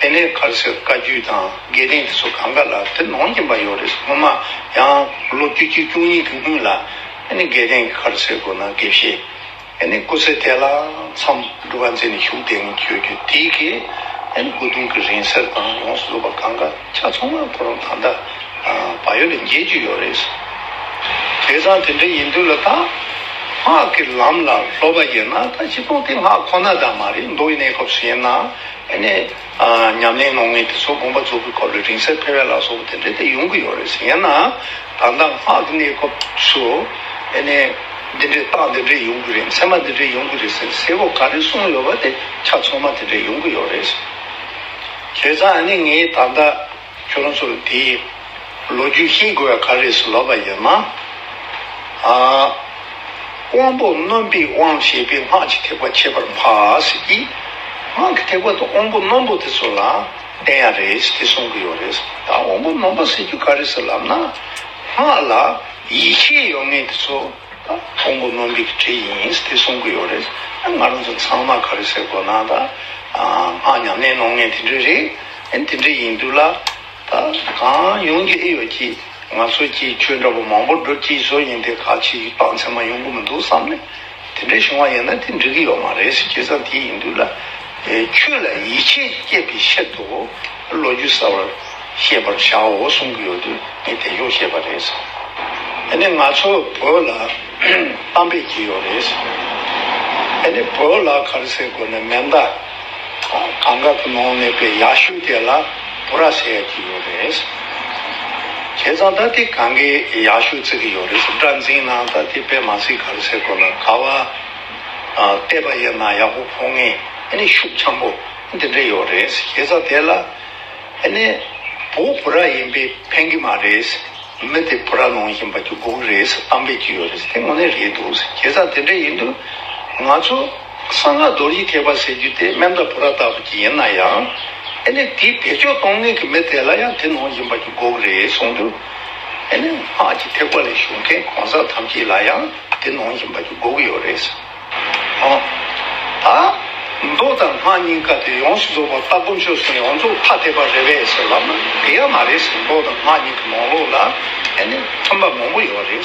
དེ་ནས་གར་སོད་བཀའ་བརྒྱུད་དང་དགེ་ལྡན་འདི་ཚོ་གང་ག་ལ་དེ་ནོངས་ཀྱིན་པ་ཡོད་རེད་སོང་ངོ་མ་ཡང་ལོ་བཅུ་གཅིག་བཅུ་གཉིས་གི་སྔུན་ལ་ནི་དགེ་ལྡན་གྱི་གར་སོད་དགོས་ན་དགེ་བཤེས་ནི་སྐུ་ཚེ་དེ་ལ་མཚམས་སྒྲུབ་བ་མཛད་ནས་བཞུགས་དེ་ནི་ཆོས་བརྒྱུད་དེའི་གི་སྐུ་གདུང་གི་རིང་བསྲེལ་དང་ཡོངས་སུ་བཟོད་པ་གང་ག་ཆ་ཚང་མ་ཁོ་རང་ད་ལྟ་བ་ཡོད་ལ་མཇལ་རྒྱུ་ཡོད་རེད་སོང། དེ་སང་དེ་འདྲ་ཡིན་དུས་ལ་ད་སྔགས་ཀྱི་ལམ་ལ་སློབ་པ་ཡིན་ན་ད་ཅི་སྟོང་དེ་སྔགས་ཁོ་ན་ད་མ་རེད་མདོ་ཡི་གནས་སྐབས་སུ་ཡིན་ན། ཉམས་ལེན་ངང་ངེས་དེ་ཚོ་དགོངས་པ་རྫོགས་པའི་སྐོར་ལས་རིང་བསྲེལ་འཕེལ་བའི་ལ་སོགས་པ་དེ་འདྲ་དེ་ཡོང་གི་ཡོད་རེད་ཟེར་ཡང་ན་ད་ལྟ་སྔགས་ཀྱི་གནས་སྐབས་སུ་འདི་འདྲའི་རྟགས་འདི་འདྲའི་ཡོང་གི་རེད་མཚན་མ་འདི་འདྲའི་ཡོང་གི་རེད་ཟེར་ཟེར་བ་ག་རེ་གསུངས་ཡོད་པ་དེ་ཆ་ཚང་མ་དེ་འདྲའི་ཡོང་གི་ཡོད་རེད། བྱས་ཙང་ངས་ད་ལྟ། ཁྱོད་ཚོར་དེའི་ལོ་རྒྱུས་ཤེས་དགོས་པ་ག་རེ་སུ་ལབ་པ་ཡོད་ན། དབང་པོ་རྣོན་པོས་དབང་བྱས་པའི་སྔགས་ཀྱི་ཐེག་པ་འཆད་པར་མ་ཟེར་གྱི། སྔགས་ཀྱི་ཐེག་པ་དུ་དབང་པོ་རྣོན་པོ་དེ་ཚོ་ལ་བསྟན་ཡ་རེད་དེ་གསུང་གི་ཡོད་རེད། ད་དབང་པོ་རྣོན་པོ་ཟེར་རྒྱུ་ག་རེ་སུ་ལབ་ན། སྔགས་ལ་ཡིད་ཆེས་ཡོད་ངེས་དེ་ཚོ་ད་དབང་པོ་རྣོན་པོའི་གི་གྲས་ཡིན་དེ་གསུང་གི་ཡོད་རེད། ང་རང་ཚོ་ཚང་མ་ག་རེ་ཟེར་དགོས་ན་ད་སྔགས་ཉམས་ལེན་གནང་ངེས་དེ་འདྲས་རེད། ཡང་དེ་འདྲ་ཡིན་དུས་ལ་ད་གང་ཡོང་གི་ཨེ་ཡོད་ཀྱི་ང་ཚོ་ཀྱིས་ཁྱོད་འདྲ་བོ་མང་པོ་སྒྲུབ་ཀྱི་བཟོ་ཡིན་ཏེ་ག་ཕྱིས་ཀྱི་སྤང་མཚན་མ་ཡོང་གི་མི་འདུག་བསམ་ནས་དེ་འདྲ་བྱུང་བ་ཡིན་ན་དེ་འགྲིག་གི་ཡོད་མ་རེད་ཟེར་ཁྱེད་ཚང་དེ་ཡིན་དུས་ལ་ཁྱོད་ལ་ཡིད་ཆེས་བསྐྱེད་པའི་ཕྱིར་དུ་ལོ་རྒྱུས་གསར་བར་ཤེས་པར་བྱའོ་གསུང་གི་ཡོད་དུས་ངས་དེ་ཞོག་བཤད་པ་རེད་བསམ། དེ་ནས་ང་ཚོ་བོད་ལ་གཏམ་དཔེ་གྱི་ཡོད་རེད་བསམ། དེ་ནས་བོད་ལ་གར་སའི་སྒོ་ནས་མེ་མདའ། གངས་དཀར་པོ་ནང་གནས་པའི་ཡག་ཤོས་དེ་ལ་བུ་ར་ཟེར་ཡག་གི་ཡོད་རེད། ཁྱེད་ཚང་ད་ལྟའི་གངས་ཀའི་ཡག་ཤོས་བརྩི་གི་ཡོད་རེད། སྒྲ་འཛིན་ནང་ད་ལྟའི་པད་མ་སྲིད་གར་ཟེར་དགོས་ལ་ག་བ་བལྟས་པ་ཡིན་ན་ཡག་པོ་ཕོ་ངས་ནི་ཤུགས་འཆམ་པོ་འདི་འདྲ་ཡོད་རེད། ཁྱེད་ཚང་དེ་ལ་ནི་བུ་བུ་ར་ཡིན་པས་ཕན་གི་མ་རེད། མི་དེ་བུ་ར་ནང་ཞིང་པ་གྱི་སྒུག་རེད་གཏམ་སྤེལ་གྱི་ཡོད་རེད་དེ་དངོས་གནས་རེད་འདུག་ཁྱེད་ཚང་དེ་འདྲ་ཡིན་དུས་ང་ཚོ། གསང་སྔགས་རྡོ་རྗེ་ཐེག་པ་ཟེར་རྒྱུ་དེ་སྨན་བདག་བུ་ར་ལྟ་བུ་ཅིག་ཡིན་ན་ཡང། ཨེ་ནས་དེའི་བེད་སྤྱོད་གཏོང་མཁན་གྱི་མི་དེ་ལ་ཡང་དེ་ནོངས་བཞིན་པ་གྱི་འགོག་རེད་གསུངས་འདུག་ཨེ་ནས་སྔགས་ཀྱི་ཐེག་པ་ལས་ཞུགས་མཁན་གང་ཟག་ཐམས་ཅད་ལ་ཡང་དེ་ནོངས་བཞིན་པ་གྱི་འགོག་ཡོད་རེད། ཨོ། ད། མདོ་དང་སྔགས་གཉིས་ཀ་དེ་ཡོངས་སུ་རྫོགས་པ་སྟ་གོན་ཆོས་སུ་ཡོངས་རྫོགས་ཐ་དད་པ་རེད་བས་ཟེར་བ་ན་དེ་ཡང་མ་རེད། མདོ་དང་སྔགས་གཉིས་ཀྱི་ནོངས་ལོག་ལ་ཨེ་ནས་མཐུན་པ་མང་པོ་ཡོད་རེད།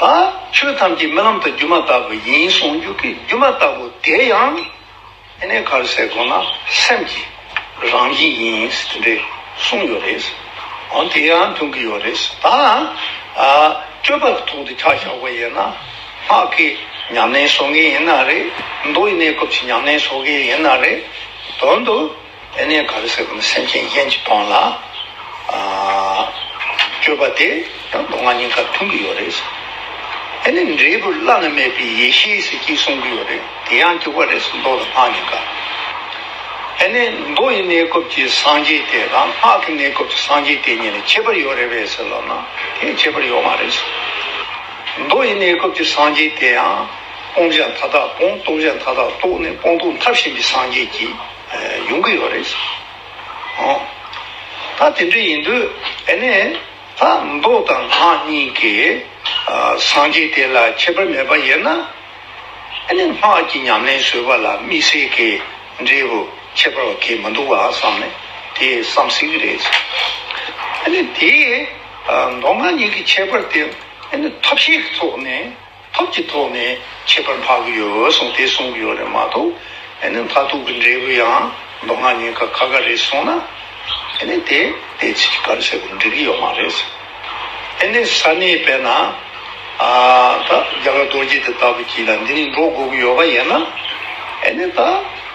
དང། ཆོས་ཐམས་ཅད་རྨི་ལམ་དུ་སྒྱུ་མ་ལྟ་བུ་ཡིན་གསུངས་རྒྱུ་གྱི་སྒྱུ་མ་ལྟ་བུ་དེ་ཡང། གནས་གར་སའི་སྒོ་ན་སེམས་ཀྱི་རང་བཞིན་ཡིན་དེ་འདྲའི་གསུངས་ཡོད་རེད། འོན་དེ་ཡང་མཐུན་གྱི་ཡོད་རེད་དང། སྤྱོད་པ་ལ་ཐུག་འདི་ཆ་བཞག་པ་ཡིན་ན། སྔགས་ཀྱི་ཉམས་ལེན་བཟོ་ངེས་ཡིན་ན་རེད། མདོ་ཡི་གནས་སྐབས་ཀྱི་ཉམས་ལེན་བཟོ་ངེས་ཡིན་ན་རེད་དོ། ཡེ་ནས་ག་རེ་ཟེར་གྱི་ནི་སེམས་ཅན་ཡན་གྱི་དོན་ལ་སྤྱོད་པ་དེ་ཡང་མདོ་སྔགས་ཉིན་སྐར་མཐུན་གྱི་ཡོད་རེད། ཡེ་ནས་འབྲས་བུ་བླ་ན་མེད་པའི་ཡེ་ཤེས་ཟེར་གྱི་གསུང་གི་ཡོད་རེད་དེ་ཡང་འགྱུར་བ་རེད་མདོ་དང་སྔགས་ཉིན་སྐར། ཡེ་ནས་མདོ་ཡི་གནས་སྐབས་ཀྱི་སངས་རྒྱས་དེ་དང་སྔགས་ཀྱི་གནས་སྐབས་ཀྱི་སངས་རྒྱས་དེ་གཉིས་ལ་ཁྱད་པར་ཡོད་རེད་བས་ཟེར་ལབ་ན་དེ་ཁྱད་པར་ཡོད་མ་རེད། མདོ་ཡི་གནས་སྐབས་ཀྱི་སངས་རྒྱས་དེ་ཡང་སྤོང་བྱ་མཐའ་དག་སྤོང་རྟོགས་བྱ་མཐའ་དག་རྟོགས་ནས་སྤོང་རྟོགས་མཐར་ཕྱིན་པའི་སངས་རྒྱས་ཀྱི། ཡོང་གི་ཡོད་རེད། ད་དེ་འདྲ་ཡིན་དུས་ཨེ་ནས་ད་མདོ་དང་ངག་གཉིས་ཀྱི་སངས་རྒྱས་དེ་ལ་ཁྱད་པར་མེད་པ་ཡིན་ན་ཨེ་ནས་སྔགས་ཀྱི་ཉམས་ལེན་བཟོས་པ་ལ་དམིགས་བསལ་གྱི་འབྲས་བུ་ཁྱད་པར་བ་གས་མི་འདུག་བ་བསམ་ནས་དེ་བསམ་བསྲིང་གི་རེད། ཨེ་ནས་དེས་མདོ་ངག་གཉིས་ཀྱི་ཁྱད་པར་དེ་ཨེ་ནས་ཐབས་ཤེས་ཀྱི་ཐོག་ནས་ཐོབ་ཀྱི་ཐོག་ནས་ཁྱད་པར་འཕགས་ཀྱི་ཡོད་གསུངས་དེ་གསུང་གི་ཡོད་རེད་མ་གཏོགས་མཐའ་ཐུག་གི་འབྲས་བུ་ཡང་མདོ་སྔགས་ཉན་ཁ་ཁ་ཁ་རེད་གསུངས་ན་དེ་དེ་ཚིག་གི་བཀའ་ལ་ཟེར་དགོས་འགྲིག་གི་ཡོད་མ་རེད། ས་གནས་པས་ན་ད་རྒྱ་གར་རྡོ་རྗེ་དེ་ལྟ་བུ་གྱིས་ལ་འདི་ནས་འགྲོ་དགོས་ཀྱི་ཡོད་པ་ཡིན་ན་ད།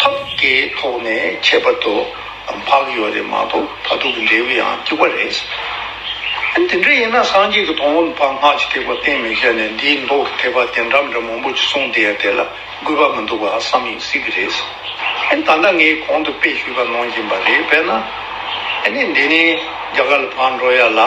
ཐབས་བརྒྱའི་ཐོག་ནས་ཁྱད་པར་དུ་འཕགས་ཡོད་རེད་མ་གཏོགས་ད་དུང་འབྲས་བུ་ཡང་སྐྱུག་པ་རེད། དེ་འདྲ་ཡིན་ན་སངས་རྒྱས་ཀྱི་དོན་འོད་དཔག་སྔགས་ཀྱི་ཐེག་པ་གཏན་མི་བཞག་ནས་འདིའི་མདོག་གི་ཐེག་པ་དེ་འདྲ་འདྲ་མང་པོ་ཅིག་གསུངས་བསྡད་ཡ་དེ་ལ་དགོས་པ་མི་འདུག་པ་བསམ་ཡིན་སྲིད་ཀྱི་རེད། ད་ལྟ་ངས་གོང་དུ་དཔེ་ཞུས་པ་ནང་བཞིན་པ་རེད་པས་ན། འདི་ནི་རྒྱ་གར་ལ་ཕར་འགྲོ་ཡ་ལ།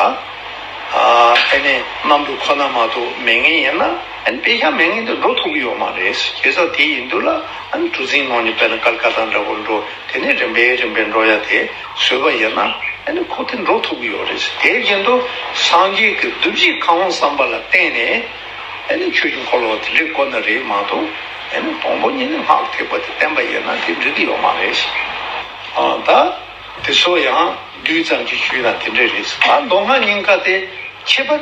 གནམ་གྲུ་ཁོ་ན་མ་གཏོགས་མེད་ངེས་ཡིན་ན། དཔེ་ཆ་མེད་ངེས་འདི་འགྲོ་ཐུབ་ཀྱི་ཡོད་མ་རེད། བྱས་ཙང་དེ་ཡིན་དུས་ལ། ཨ་ནི་གྲུ་གཟིངས་ནང་ནས་བལྟས་ན་དཀར་དཀར་དང་འདྲ་བོ་འགྲོ་དེ་ནས་རིམ་པས་རིམ་པས་འགྲོ་ཡ་དེ་བཟོད་པ་ཡིན་ན་ཨ་ནི་ཁོ་དེ་འགྲོ་ཐུབ་ཀྱི་ཡོད་རེད་ཟེར་དེའི་རྒྱུན་དུ་སངས་རྒྱས་ཀྱི་བདུད་བཞི་གང་བོ་བསམ་པ་ལ་བརྟེན་ནས་ཨ་ནི་ཁྱོད་ཀྱི་འཁོར་ལོ་དེ་འདྲའི་དཀོན་ན་རེད་མ་གཏོགས་ཨ་ནི་དང་པོ་ཉིད་ནས་སྔགས་ཐེག་པ་དེ་བསྟན་པ་ཡིན་ན་དེ་འགྲིག་གི་ཡོད་མ་རེད་ཟེར་ད་དེ་ཚོ་ཡང་རྡུལ་ཙམ་གྱི་ཆུ་ཡིན་ན་དེ་འདྲས་རེད་ཟེར་ད་མདོ་སྔགས་རྙིང་ཁ་དེ་ཁྱད་པར།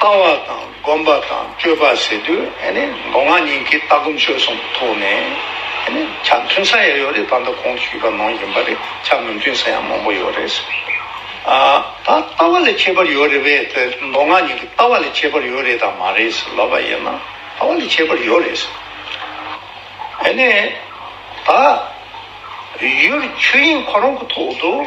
བསྐང་བ་དང་བསྒོམ་པ་དང་སྤྱོད་པ་ཟེར་དུས་མདོ་སྔགས་གཉིས་ཀྱི་ལྟ་སྒོམ་སྤྱོད་གསུམ་གྱི་ཐོག་ནས་ཆ་མཐུན་ས་ཡང་ཡོད་རེད་ད་ལྟ་གོང་དུ་ཞུས་པ་མང་ཡིན་པ་རེད་ཆ་མི་མཐུན་ས་ཡང་མང་པོ་ཡོད་རེད། ད་ལྟ་བ་ལས་ཁྱད་པར་ཡོད་རེད་བས་དེ་མདོ་སྔགས་གཉིས་ཀྱི་ལྟ་བ་ལས་ཁྱད་པར་ཡོད་རེད་དམ་མ་རེད་ཟེར་ལབ་པ་ཡིན་ན་ལྟ་བ་ལས་ཁྱད་པར་ཡོད་རེད། ད་ཡུལ་ཆོས་དབྱིངས་ཁོ་རང་གི་ཐོག་ཏུ།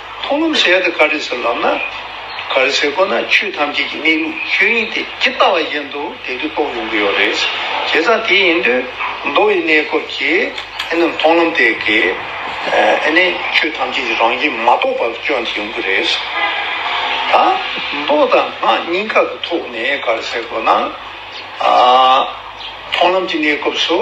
མཐོང་ལམ་ཞལ་དུ་དཀར་དྲི་ཟའི་ལམ་ན། གར་བྱེད་སྒོ་ན་ཆོས་ཐམས་ཅད་ཀྱི་གནས་ལུགས་ཆོས་དབྱིངས་དེ་ཇི་ལྟ་བ་བཞིན་དུ་དེ་དུས་རྟོགས་ཡོང་གི་ཡོད་རེད། བྱས་ཙང་དེ་ཡིན་དུས་མདོ་ཡི་གནས་སྐབས་ཀྱི་ཨེ་ནི་མཐོང་ལམ་དེ་གའི་ཨེ་ནི་ཆོས་ཐམས་ཅད་ཀྱི་རང་བཞིན་མ་རྟོགས་པར་སྐྱོན་དེ་ཡོང་གི་རེད། ད་མདོ་དང་སྔགས་གཉིས་ཀ་གི་ཐོག་ནས་གར་བྱེད་སྒོ་ན། མཐོང་ལམ་གྱི་གནས་སྐབས་སུ།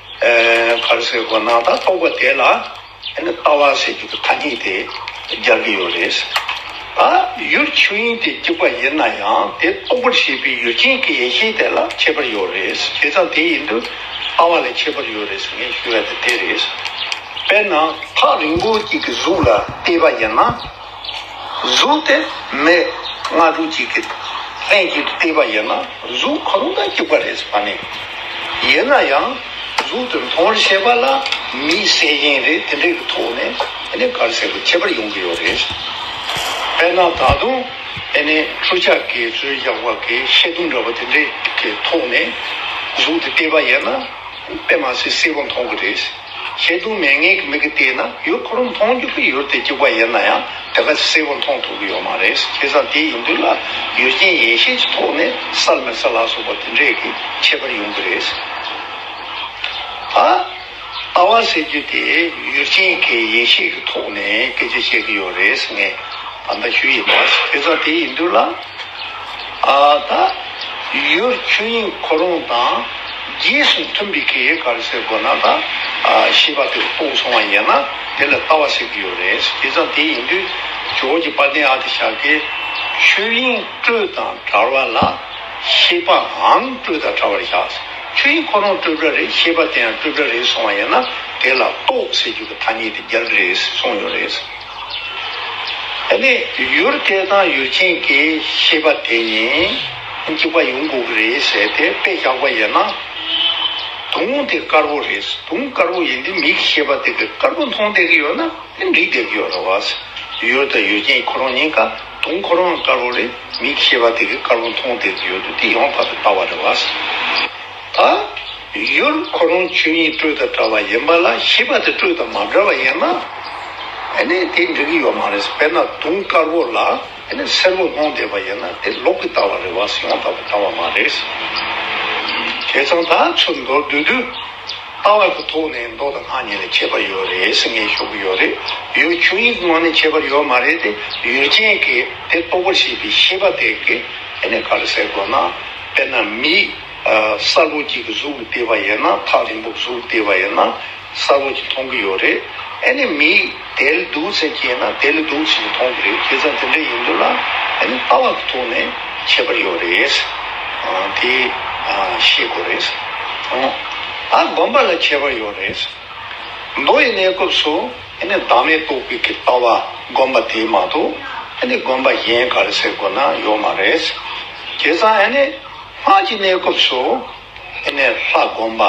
གར་སའི་སྒོ་ནང་དག་རྟོགས་པ་དེ་ལ་ལྟ་བ་ཟེར་རྒྱུ་དེ་ཐ་སྙད་དེ་སྦྱར་གྱི་ཡོད་རེད། ད་ཡུལ་ཆོས་དབྱིངས་དེ་གཅིག་པ་ཡིན་ན་ཡང་དེ་སྟོང་པར་བྱེད་པའི་ཡུལ་ཅན་གྱི་ཡེ་ཤེས་དེ་ལ་ཁྱད་པར་ཡོད་རེད། དེ་ཙམ་དེ་ཡིན་དུས་ལྟ་བ་ལ་ཁྱད་པར་ཡོད་རེད་ཟེར་མཁན་ཞུ་བ་དེ་དེ་རེད། དཔེར་ན་ཐག་རིང་པོ་གཅིག་གི་གཟུགས་ལ་བལྟས་པ་ཡིན་ན། གཟུགས་དེ་མེད་སྔ་དྲོ་གཅིག་གི་ལྷན་ཅིག་ཏུ་བལྟས་པ་ཡིན་ན་གཟུགས་གང་དུ་སྐྱེས་པ་རེད་བསམ་ནས། ཡིན་ན་ཡང་གཟུགས་དེ་མཐོང་བར་བྱེད་པ་ལ་མི་གསལ་རྐྱེན་རེ་དེ་འདྲའི་གི་ཐོག་ནས་ཨེ་ནས་གར་གསལ་པོ་ཁྱད་པར་ཡོང་གི་ཡོད་རེད། དཔེར་ན་ད་དུང་ཨེ་ནས་འཕྲུལ་ཆ་གས་རྩོལ་རྒྱག་པ་གས་ཤེལ་དུམ་འདྲ་བ་དེ་འདྲའི་གི་ཐོག་ནས་གཟུགས་དེ་བལྟས་པ་ཡིན་ན་དཔེ་མ་ཟད་གསལ་པོ་མཐོང་གི་རེད། ཤེས་དུ་མེད་ངེས་ཀྱི་མིག་གིས་བལྟས་ན་ཡུལ་ཁོ་རང་མཐོང་རྒྱུ་ཁོའི་ཡུལ་དེ་གཅིག་པ་ཡིན་ན་ཡང་དེ་ག་ཚོད་གསལ་བོ་མཐོང་ཐུབ་ཀྱི་ཡོད་མ་རེད་ཁེ་བཟང་དེ་ཡིན་དུས་ལ་ཡུལ་རྐྱེན་ཡེ་ཤེས་ཀྱི་ཐོག་ནས་གསར་མི་གསར་ལགས་སོགས་པ་དེ་འདྲས་ཀྱི་ཁྱད་པར་ཡོང་གི་རེད། ཨ་བ་ཟེར་རྒྱུ་དེ་ཡུལ་རྐྱེན་གྱི་ཡེ་ཤེས་ཀྱི་ཐོག་ནས་སྐད་ཆ་བཤད་ཀྱི་ཡོད་རེད་ངས་བ་ད་ཞུ་ཡི་མ་ཁེ་བཟང་དེ་ཡིན་དུས་ལ། ཡུལ་ཆོས་དབྱིངས་ཁོ་རང་དང་རྗེས་སུ་མཐུན་པའི་གེགས་ག་རེ་སེལ་དགོས་ན་ད་ཞེས་པ་དེ་རྟོགས་སོང་བ་ཡིན་ན་དེ་ལ་ལྟ་བ་ཟེར་གྱི་ཡོད་རེད་དེ་ཙམ་དེ་ཡིན་དུས་ཇོ་ཇོ་པཱ་ཏན་ཨ་ཏི་ཤཱཀྱའི་ཆོས་དབྱིངས་སྤྲོས་དང་བྲལ་བ་ལ་ཤེས་པའང་སྤྲོས་དང་བྲལ་བར་བཞག་ཆོས་དབྱིངས་ཁོ་རང་སྤྲོས་བྲལ་རེད་ཤེས་པ་དེ་ཡང་སྤྲོས་བྲལ་རེད་སོང་བ་ཡིན་ན་དེ་ལ་རྟོགས་ཟེར་རྒྱུ་གི་ཐ་སྙད་དེ་རྒྱག་གི་རེད་ཟེར་གསུངས་ཡོད་རེད། ནི། ཡུར་དེ་དང་ཡུར་ཆེན་གྱི་ཤེས་པ་དེ་གཉིས་གཅིག་པ་ཡོང་དགོས་ཀྱི་རེད་ཟེར་ཏེ་དཔེ་བཞག་པ་ཡིན་ན། དུང་དེ་དཀར་པོ་རེད་དུང་དཀར་པོ་ཡིན་དུས་མི་གི་ཤེས་པ་དེ་གི་དཀར་པོ་མཐོང་བསྡད་ཀྱི་ཡོད་ན་དེ་འགྲིག་བསྡད་ཀྱི་ཡོད་རེད་བ། ཡུར་དང་ཡུར་ཆེན་ཁོ་རང་གཉིས་ཀ་དུང་ཁོ་རང་ཡང་དཀར་པོ་རེད་མི་གི་ཤེས་པ་དེ་གི་དཀར་པོ་མཐོང་བསྡད་ཀྱི་ཡོད་དུས་དེ་ཡང་དག་པའི་ལྟ་བ་རེད་བ། ད་ཡུར་ཁོ་རང་ཆོས་ཉིད་སྤྲོས་དང་འདྲ་བ་ཡིན་པ་ལ་ཤེས་པ་དེ་སྤྲོས་དང་མ་འདྲ་བ་ཡིན་ན་ནི་དེ་འགྲིག་གི་ཡོད་མ་རེད་དཔེར་ན་དུང་དཀར་བོ་ལ་སེར་བོ་ལྷུང་བསྡད་པ་ཡིན་ན་དེ་ལོག་གི་ལྟ་བ་རེད་བ་སེང་བ་ལྟ་བུ་ལྟ་བ་མ་རེད། དེ་ཚང་ད་ཚུར་མདོར་བསྡུས་དུས་ལྟ་བ་གི་ཐོག་ནས་མདོ་དང་སྔགས་གཉིས་ལ་ཁྱད་པར་ཡོད་རེད་ཟེར་ངེས་ཤོག་གི་ཡོད་རེད་ཡུལ་ཆོས་ཉིད་ཀྱི་ངང་ནས་ཁྱད་པར་ཡོད་མ་རེད་དེ་ཡུལ་ཅན་གྱི་དེ་རྟོགས་པར་བྱེད་པའི་ཤེས་པ་དེ་གི་ག་རེ་ཟེར་དགོས་ན་དཔེར་ན་མི་ས་ལུག་གིས་གཟུགས་ལ་བལྟས་པ་ཡིན་ན་ཐག་རིང་པོ་གཟུགས་ལ་བལྟས་པ་ཡིན་ན་ས་ལུག་གིས་མཐོང་གི་ཡོད་རེད་ཨ་ནི་མི་དལ་སྡུག་ཚན་སྐྱེས་ན་དལ་སྡུག་ཚིག་གིས་མཐོང་གི་རེད་ཁྱེད་ཚང་དེ་འདྲ་ཡིན་འདུག་ལ་ཨ་ནི་ལྟ་བ་གི་ཐོག་ནས་ཁྱད་པར་ཡོད་རེད་དེ་ཤེས་དགོས་རེད་ཨ་དགོན་པ་ལ་ཁྱད་པར་ཡོད་རེད་མདོ་ཡི་གནས་སྐབས་སུ་ཨ་ནི་བདག་མེད་རྟོགས་པའི་ཀྱི་ལྟ་བ་དགོན་པ་དེ་མ་གཏོགས་ཨ་ནི་དགོན་པ་གཞན་ག་རེ་ཟེར་དགོས་ན་ཡོད་མ་རེད་ཁྱེད་ཚང་ཨ་ནི། སྔགས་ཀྱི་གནས་སྐབས་སུ་ཨེ་ནས་ལྷ་བསྒོམ་པ།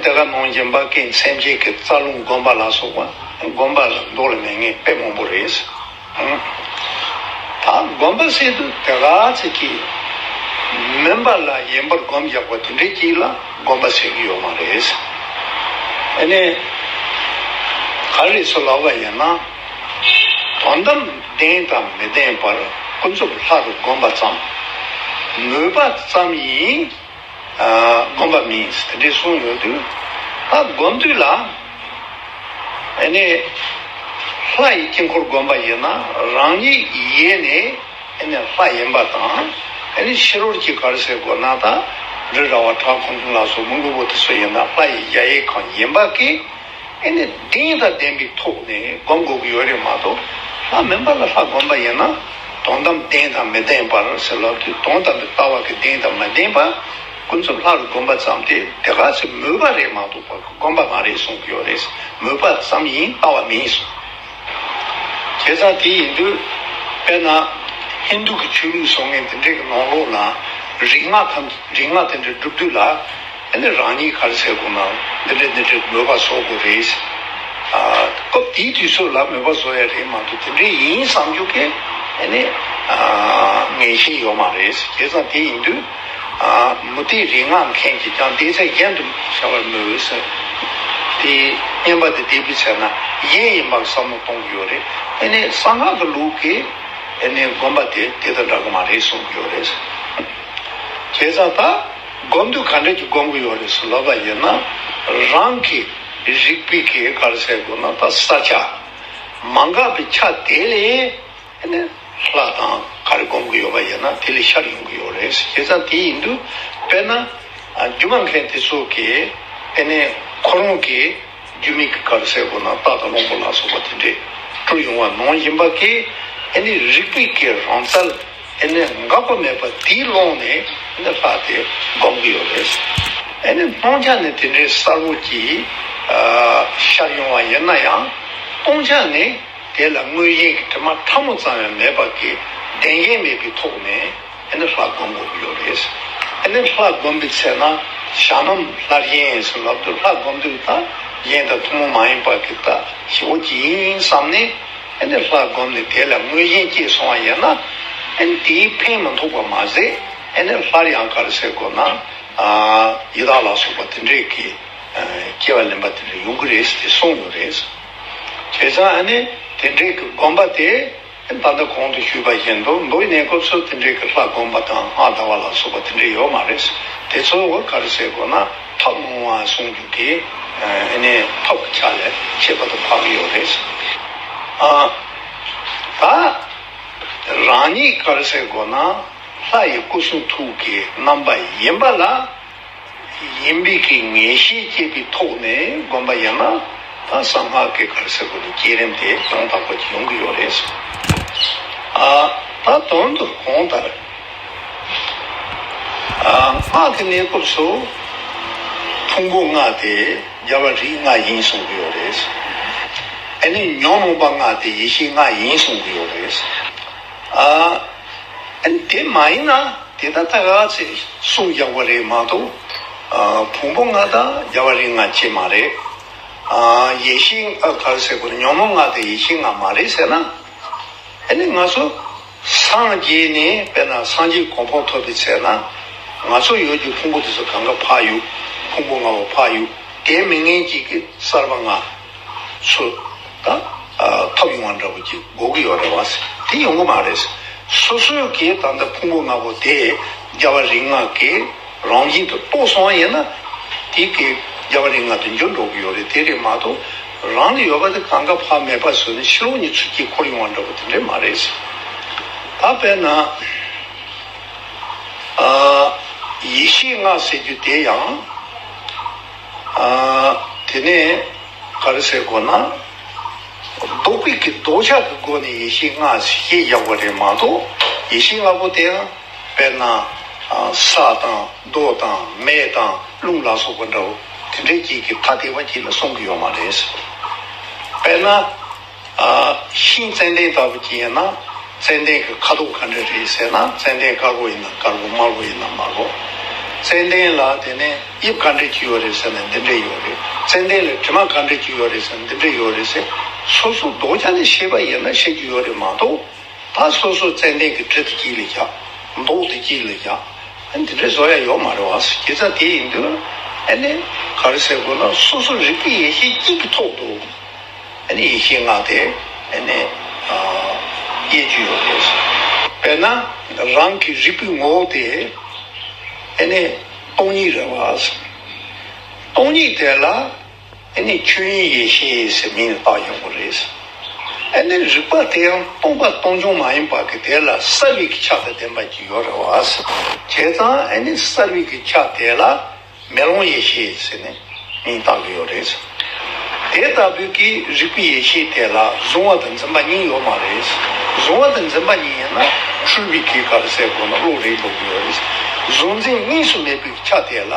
དེ་ག་ནང་རྗེ་འབའ་ཀའི་མཚན་བརྒྱད་ཀྱི་རྩ་རླུང་བསྒོམ་པ་ལ་སོགས་པ་བསྒོམ་པ་ལ་མདོ་ལ་མེད་ངེས་དཔེ་མང་པོ་རེད། ད་བསྒོམ་པ་སྲིད་དུ་དེ་ག་ཚིག་གིས་མིན་པ་ལ་ཡན་པར་བསྒོམ་རྒྱག་པ་དེ་འདྲའི་གྱིས་ལ་བསྒོམ་པ་ཟེར་གྱི་ཡོད་མ་རེད། ཨེ་ནས་ག་རེ་སུ་ལབ་པ་ཡིན་ན། དོན་དམ་བདེན་དང་མི་བདེན་པར་ཀུན་རྫོབ་ལྷ་རུ་བསྒོམ་པ་ཙམ། མོས་པ་ཙམ་ཡིན། བསྒོམ་པ་མིན་དེ་འདྲའི་གསུངས་ཡོད་དུས། ད་བསྒོམ་དུས་ལ། ཨེ་ནས། ལྷ་ཡི་དཀྱིལ་འཁོར་བསྒོམ་པ་ཡིན་ན་རང་ཉིད་ཡེ་ནས་ཨེ་ནས་ལྷ་ཡིན་པ་དང། ཨེ་ནས་ཕྱི་རོལ་གྱི་གར་སའི་སྒོ་ན་དག་འབྲུ་ར་བ་བྲག་ཁུང་ཁུང་ལ་སོགས་མི་མགོན་པོ་དེ་ཚོ་ཡིན་ན་ལྷ་ཡི་གཞལ་ཡས་ཁང་ཡིན་པ་ཀི། ཨེ་ནས་གདེངས་དང་ལྡན་པའི་ཐོག་ནས་བསྒོམ་དགོས་ཀྱི་ཡོད་རེད་མ་གཏོགས་ལྷ་མིན་པ་ལ་ལྷ་བསྒོམ་པ་ཡིན་ན་དོན་དམ་གདེངས་དང་མི་ལྡན་པར་ཟེར་ལབ་དུས་དོན་དམ་པའི་ལྟ་བ་གི་གདེངས་དང་མི་ལྡན་པ་ཀུན་རྫོབ་ལྷ་རུ་བསྒོམ་པ་ཙམ་དེ་དེ་ག་ཚོད་མོས་པ་རེད་མ་གཏོགས་པར་བསྒོམ་པ་མ་རེད་གསུངས་ཀྱི་ཡོད་རེད་མོས་པ་ཙམ་ཡིན་ལྟ་བ་མིན་གསུངས། བྱས་ཙང་དེ་ཡིན་དུས་དཔེར་ན་ཧིན་དུ་གི་ཆོས་ལུགས་བཟོ་མཁན་དེ་འདྲས་ཀྱི་ནང་ལོགས་ན་རིག་སྔགས་དང་རིག་སྔགས་དེ་འདྲ་སྒྲུབ་དུས་ལ། དེ་ནས་རང་ཉིད་གར་ཟེར་དགོས་ནའང་འདི་འདྲའི་འདི་འདྲའི་མོས་པ་བཟོ་དགོས་རེད། སྐབས་དེའི་དུས་ཚོད་ལ་མོས་པ་བཟོ་ཡ་རེད་མ་གཏོགས་དེ་འདྲའི་ཡིན་བསམ་རྒྱུ་ཁས་ལེན་བཞིན་ཡོད་མ་རེད། དེ་ཙམ་དེ་ཡིན་དུས། མུ་སྟེགས་རིག་སྔགས་མཁན་གྱིས་ཀྱང་བལྟས་ཚད་གཞན་དུ་བྱ་བར་མོས་འོས་སྲིད། དེ་བསྙེན་པ་དེ་འདེད་པུས་བྱས་ན་གཞན་ཡིན་པར་བསམ་བློ་གཏོང་གི་ཡོད་རེད། དེ་ནས་གསང་སྔགས་ཀྱི་ལུགས་ཀྱི་དགོན་པ་དེ་དེ་དང་འདྲ་གི་མ་རེད་གསུང་གི་ཡོད་རེད། བྱས་ཙང་ད། སྒོམ་དུས་ག་འདྲ་གྱི་སྒོམ་གི་ཡོད་རེད་ཟེར་ལབ་པ་ཡིན་ན་རང་གི་རིག་པའི་གེ་གར་བསལ་དགོས་ན་ད་ས་ཆ་མ་འགག་པའི་ཆ་དེ་ལས་ནི་ལྷ་དང་ག་རེ་སྒོམ་གི་ཡོད་པ་ཡིན་ན་དེ་ལས་ཤར་ཡོང་གི་ཡོད་རེད་ཟེར་ཁྱེད་ཚང་དེ་ཡིན་དུས་དཔེར་ན་སྒྱུ་མ་མཁན་དེ་ཚོ་གིས་ཨེ་ནས་ཁོ་རང་གི་རྒྱུ་མིག་གི་གར་བསལ་དགོས་ན་སྟག་དང་གླང་པོ་ལ་སོགས་པ་དེ་འདྲས་དཀྲུག་ཡོང་བ་ནང་ཡིན་པ་གིས་ཨེ་ནས་རིག་པའི་གེ་རང་བསལ། དེ་ནས་འགག་པ་མེད་པ་དེའི་ཀློང་ནས་ནི་ལྷ་དེ་སྒོམ་གྱི་ཡོད་རེད། དེ་ནས་སྟོང་ཆ་ནི་དེ་འདྲའི་གསར་བུ་གྱི་ཤར་ཡོང་བ་ཡིན་ན་ཡང། སྟོང་ཆ་ནི་དེ་ལ་དངོས་གཞན་གྱི་དྲི་མ་ཕྲ་མོ་ཙམ་ཡང་མེད་པ་གྱི་བདེན་རྒྱན་མེད་པའི་ཐོག་ནས་ནི་ལྷ་སྒོམ་དགོས་ཀྱི་ཡོད་རེད། དེ་ནས་ལྷ་སྒོམ་པའི་ཚེ་ན་བྱ་ནམ་ལྷར་གཞན་ཡིན་སྲིད་ལབ་དུས་ལྷ་སྒོམ་དུས་ལྷ་གཞན་དང་ཐུན་མོང་མ་ཡིན་པ་གྱི་ལྟ་ཞིབ་བོ་ཅི་ཡིན་བསམ་ནས། ཨན་ཏེ་ལྷ་བསྒོམས་ནས་དེ་ལ་དངོས་གཞན་སྐྱེས་སོང་བ་ཡིན་ན། ཨན་དེའི་ཕན་མི་འཐོག་པ་མ་ཟད་ཨན་ནས་ལྷར་ཡང་ག་རེ་ཟེར་དགོས་ན། ཡི་དྭགས་ལ་སོགས་པ་དེ་འདྲས་ཀྱི་སྐྱེ་བ་ལེན་པ་དེ་འདྲ་ཡོང་གི་རེད་ཅེས་གསུངས་ཡོད་རེད། བྱས་ཙང་ཨན་དེ་འདྲས་ཀྱི་བསྒོམ་པ་དེ་ད་ལྟ་གོང་དུ་ཞུས་པ་བཞིན་དུ་མདོ་ཡི་གནས་སྐབས་སུ་དེ་འདྲས་ཀྱི་ལྷ་བསྒོམ་པ་དང་སྔགས་བཟླ་བ་ལ་སོགས་པ་དེ་འདྲས་ཡོད་མ་རེད། དེ་ཚོ་ག་རེ་ཟེར་དགོས་ན། ཕབ་སྔོན་མ་གསུངས་རྒྱུ་དེ་ཨ་ནེ་ཕབ་པ་ཆགས་ལས་ཤེས་པ་དང་ཕབ་ཡོད་རེད་ཟེར། ད་རང་ཉིད་དཀར་ཟས་དགོ་ན་ལྷ་ཡི་སྐུ་གསུང་ཐུགས་ཀྱི་རྣམ་པ་ཡིན་པ་ལ་ཡིན་འབིག་གི་ངེས་ཤེས་སྐྱེས་པའི་ཐོག་ནས་དགོན་པ་ཡང་ན་ད་གསང་སྔགས་ཀྱི་དཀར་ཟས་དགོ་ནས་བསྐྱེད་རིམ་དེ་ཡོངས་དག་པ་ཡོང་གི་ཡོད་རེད་ཟེར། ད་དོན་དུ་གོང་ལྟར། སྔགས་ཀྱི་གནས་སྐབས་སུ་ཕུང་པོ་ལྔ་སྟེ་རྒྱལ་བ་རིགས་ལྔ་ཡིན་གསུང་གི་ཡོད་རེད། དེ་ནས་ཉོན་མོངས་པ་ལྔ་སྟེ་ཡེ་ཤེས་ལྔ་ཡིན་གསུང་གི་ཡོད་རེད། དེ་མ་ཡིན་ན་དེ་ད་ལྟ་ག་ཚད་གསུང་རྒྱག་པ་རེད་མ་གཏོགས་ཕུང་པོ་ལྔ་དང་རྒྱལ་བ་རིགས་ལྔ་གཅིག་མ་རེད། ཡེ་ཤེས་ཉོན་མོངས་ལྔ་དང་ཡེ་ཤེས་ལྔ་མ་རེད་ཟེར་ན། ང་ཚོ། སངས་རྒྱས་ནི་དཔེར་ན་སངས་རྒྱས་གོ་འཕོ་ཐོབ་པའི་ཚེ་ན། ང་ཚོ་ཡོད་ཀྱི་ཕུང་པོ་དེ་ཚོ་གང་ག་འཕགས་དབྱུག་ཕུང་པོ་ལྔ་བོ་འཕགས་དབྱུག་དེའི་མི་ངན་གྱིས་ཀྱི་གསར་པ་ལྔ། སུ། ད། ཐོབ་ཡོང་བ་འདྲ་པོ་ཀྱི་འགོག་གི་ཡོག་རེད་བ། དེ་ཡོང་གི་མ་རེད། སོ་སོའི་གི་ད་ལྟ་ཕུང་པོ་ལྔ་པོ་དེ་རྒྱ་བ་རིགས་ལྔ་གི་རང་བཞིན་དུ་རྟོགས་སོང་བ་ཡིན་ན། དེ་གི་རྒྱ་བ་རིགས་ལྔ་དུ་འགྱུར་འགྲོ་གི་ཡོག་རེད་དེ་རེད་མ་གཏོགས། རང་ལ་ཡོད་པ་དེ་གང་ག་བར་མེད་པར་བཟོས་ནས་ཤེའུ་གཉིས་ཚུར་དཀྱིལ་འཁོར་ཡོང་བར་འགྲོ་བ་དེ་འདྲས་མ་རེད་ཟེར། ད་དཔེར་ན། ཡེ་ཤེས་ལྔ་ཟེར་རྒྱུ་དེ་ཡང། དེ་ནས་ག་རེ་ཟེར་དགོས་ན། ལྡོག་པའི་གི་ལྡོག་ཆགས་ཀྱི་སྒོ་ནས་ཡེ་ཤེས་ལྔ་ཞེས་བཞག་པ་རེད་མ་གཏོགས་ཡེ་ཤེས་ལྔ་པོ་དེ་ཡང་དཔེར་ན། ས་དང། རྡོ་དང་མེ་དང་རླུང་ལ་སོགས་པ་འདྲའོ། དེ་འདྲའི་རྐྱེན་གྱིས་ཐ་དད་པ་གྱིས་ལ་སོང་གི་ཡོད་མ་རེད། དཔེར་ན། ཤིང་ཙནྡན་ལྟ་བུ་གྱིས་ཡིན་ན་ཙནྡན་གྱི་ཁ་དོག་ག་འདྲ་རེད་ཟེར་ན་ཙནྡན་དཀར་པོ་ཡིན་ན་དཀར་པོ་དམར་པོ་ཡིན་ན་དམར་པོ། ཙནྡན་ལ་དེ་ནས་དབྱིབས་ག་འདྲ་གྱི་ཡོད་རེད་ཟེར་ན་འདི་འདྲའི་ཡོད་རེད། ཙནྡན་ལ་དྲི་མ་ག་འདྲ་གྱི་ཡོད་རེད་ཟེར་ན་འདི་འདྲའི་ཡོད་རེད་ཟེར། སོ་སོ་རྡོ་རྐྱང་ནས་ཤེས་པ་ཡིན་ན་ཤེས་ཀྱི་ཡོད་རེད་མ་གཏོགས། ད་སོ་སོ་ཙན་དན་གི་གྲི་དེ་སྐྱིད་ལ་རྒྱག། མདོག་དེ་སྐྱིད་ལ་རྒྱག། ཨ་འདི་འདྲའི་བཟོ་ཡ་ཡོག་མ་རེད་བ་ཟེར་གི་ཚ་དེ་ཡིན་དུས། ཨ་ནི། ག་རེ་ཟེར་དགོས་ན་སོ་སོ་རིག་པའི་ཡེ་ཤེས་སྐྱིད་ཀྱི་ཐོག་ཏུ། ཨ་ནི་ཡེ་ཤེས་སྔགས་དེ། ཨ་ནི། དབྱེ་རྒྱུ་ཡོག་རེད་ཟེར། དཔེར་ན། རང་གི་རིག་པའི་ངོ་བོ་དེ། ཨ་ནི། སྟོང་ཉིད་རེད་བ་ཟེར། སྟོང་ཉིད་དེ་ལ། ཨེ་ནས་ཆོས་དབྱིངས་ཡེ་ཤེས་ཟེར་མིང་ལ་བཏགས་ཡོང་གི་རེད། ཨེ་ནས་རིག་པ་དེ་ཡང་སྟོང་པ་སྟོང་ཆུང་མ་ཡིན་པར་གི་དེ་ལ་ས་རིས་ཀྱི་ཆ་དང་ལྡན་པ་གཅིག་ཡོད་རེད་བ། བྱས་ཙང་ཨེ་ནས་ས་རིས་ཀྱི་ཆ་དེ་ལ་མེ་ལོང་ཡེ་ཤེས་ཟེར་ནས་མིང་བཏགས་ཀྱི་ཡོད་རེད། དེ་ལྟ་བུའི་གི་རིག་པའི་ཡེ་ཤེས་དེ་ལ་གཟུང་བ་དང་འཛིན་པ་གཉིས་ཡོད་མ་རེད། གཟུང་བ་དང་འཛིན་པ་གཉིས་ཡིན་ན་འཁྲུལ་པའི་གེ་ཁ་ལ་ཟེར་དགོས་ན་བློ་རེད་འགྲོ་གི་ཡོད་རེད། གཟུང་འཛིན་གཉིས་སུ་མེད་པའི་གི་ཆ་དེ་ལ།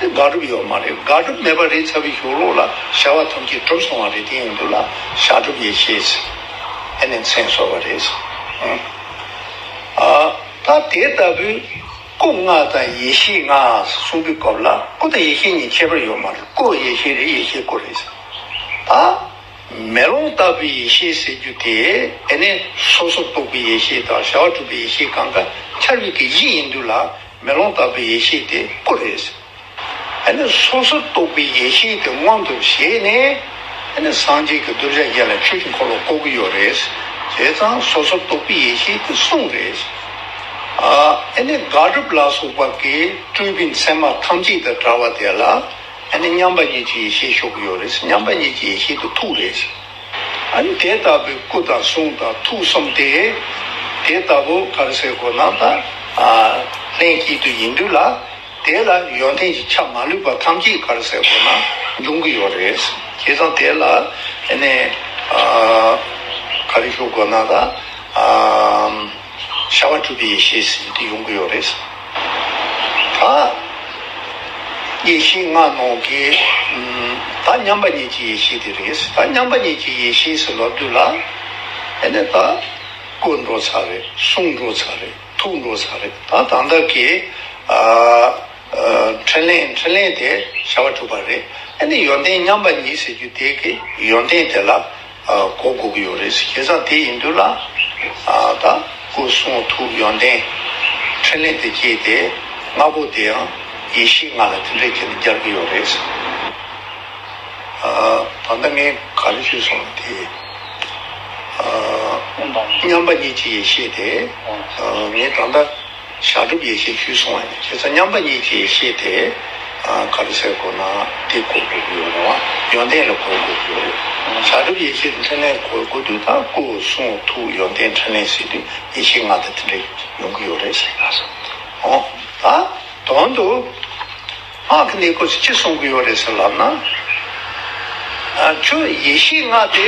དེ་དགག་སྒྲུབ་ཡོད་མ་རེད་དགག་སྒྲུབ་མེད་པ་རེད་ཚ་བའི་ཞོགས་ལོག་ལ་བྱ་བ་ཐམས་ཅད་གྲུབ་སོང་བ་རེད་དེ་ཡིན་དུས་ལ་བྱ་སྒྲུབ་ཡེ་ཤེས་ཨེ་ནས་མཚན་གསོལ་བ་རེད། ད་དེ་ལྟ་བུའི་སྐུ་ལྔ་དང་ཡེ་ཤེས་ལྔ་གསུང་པའི་སྐབས་ལ་སྐུ་དང་ཡེ་ཤེས་གཉིས་ཁྱད་པར་ཡོད་མ་རེད་སྐུ་ཡེ་ཤེས་རེད་ཡེ་ཤེས་སྐུ་རེད། ད་མེ་ལོང་ལྟ་བུའི་ཡེ་ཤེས་ཟེར་རྒྱུ་དེ་ཨེ་ནས་སོ་སོར་རྟོག་པའི་ཡེ་ཤེས་དང་བྱ་བ་གྲུབ་པའི་ཡེ་ཤེས་གང་ག་འཆར་བའི་གེགས་བཞི་ཡིན་དུས་ལ། མེ་ལོང་དག་པའི་ཡེ་ཤེས་དེ་སྐུ་རེད། ཨ་ནི་སོ་སོར་རྟོག་པའི་ཡེ་ཤེས་དེ་མངོན་དུ་བྱས་ནས། ཨ་ནི་སངས་རྒྱས་ཀྱི་གདུལ་བྱ་བརྒྱད་ལ་ཆོས་ཀྱི་འཁོར་ལོ་བསྐོར་གྱི་ཡོད་རེད། བྱས་ཙང་སོ་སོར་རྟོག་པའི་ཡེ་ཤེས་དེ་གསུང་རེད། ཨ་ནི་དགག་སྒྲུབ་ལ་སོགས་པ་གིས་སྤྲུལ་པའི་མཚན་མ་ཐམས་ཅད་དང་བྲལ་བ་དེ་ལ་ཨ་ནི་མཉམ་པ་ཉིད་ཀྱི་ཡེ་ཤེས་ཞོག་གི་ཡོད་རེད། མཉམ་པ་ཉིད་ཀྱི་ཡེ་ཤེས་དེ་ཐུགས་རེད། དེ་ལྟ་བུའི་སྐུ་དང་གསུང་དང་ཐུགས་གསུམ་སྟེ། དེ་ལྟ་བུ་ཕར་ཟད་སྒོ་ནང་དང། ལྷན་སྐྱེས་དུ་ཡིན་དུས་ལ། དེ་ལ་ཡོན་ཏན་གྱི་ཆ་མ་ལུས་པ་ཐམས་ཅད་ཕར་ཟད་སྒོ་ན་འབྱུང་གི་ཡོད་རེད། དེ་དང་དེ་ལ། ཕར་ཞོག་སྒོ་ནང་དང། ཤ་བ་གྲུབ་པའི་ཡེ་ཤེས་ཟིན་ཏེ་ཡོང་གི་ཡོད་རེད། ད་ཡེ་ཤེས་ལྔ་ནང་གི་ད་མཉམ་པ་ཉིད་ཀྱི་ཡེ་ཤེས་དེ་རེད། ད་མཉམ་པ་ཉིད་ཀྱི་ཡེ་ཤེས་སུ་ལབ་དུས་ལ་དེ་ནས་ད་བཀོད་འགྲོ་ཚར་རེད་གསུང་འགྲོ་ཚར་རེད་ཐུག་འགྲོ་ཚར་རེད་ད་ད་ལྟ་གི་འཕྲིན་ལན་འཕྲིན་ལན་དེ་ཤ་བ་གྲུབ་པ་རེད། ཡོན་ཏན་མཉམ་པ་ཉིད་ཟེར་རྒྱུ་དེ་གི་ཡོན་ཏན་དེ་ལ་སྒོ་དགུག་གི་ཡོད་རེད་ཟེར་ཁྱེད་ཅག་དེ་ཡིན་དུས་ལ་ད་སྐུ་གསུང་ཐུགས་ཡོན་ཏན་ཕྲིན་ལས་དེ་སྐྱེས་ཏེ་ལྔ་པོ་དེ་ཡང་ཡེ་ཤེས་ལྔ་ལ་དེ་འདྲས་ཁྱེད་ནས་སྦྱར་གྱི་ཡོད་རེད་ཟེར། ད་ལྟ་ངས་ག་རེ་བརྗོད་སོང་བ་དེ། མཉམ་པ་ཉིད་ཀྱི་ཡེ་ཤེས་དེ་ངས་ད་ལྟ། བྱང་ཆུབ་ཡེ་ཤེས་བཅུའི་གསུང་བ་ནི་ཁྱེད་ཚོ་མཉམ་པ་ཉིད་ཀྱིས་ཤེས་ཏེ། ག་རུ་སེར་གོ་ན་ཏི་གོ་དགོས་ཀྱི་ཡོད་རུང་ཡོན་ཏན་ལ་གོ་དགོས་ཀྱི་ཡོད། བྱང་ཆུབ་ཡེ་ཤེས་འཕྲིན་ལས་གོ་དགོས་དུས་དང་སྐུ་གསུང་ཐུགས་ཡོན་ཏན་འཕྲིན་ལས་ཟེར་དུས་ཡེ་ཤེས་ང་དང་དེ་འདྲ་ཡོང་གི་ཡོད་རེད་ཟེར་ག་ས་ཨོ། ད་དོན་དུ་སྔགས་ཀྱི་གནས་སྐོར་ཅིག་ཅི་གསུང་གི་ཡོད་རེད་ཟེར་ལབ་ན། ཁྱོད་ཡེ་ཤེས་ལྔ་དེ་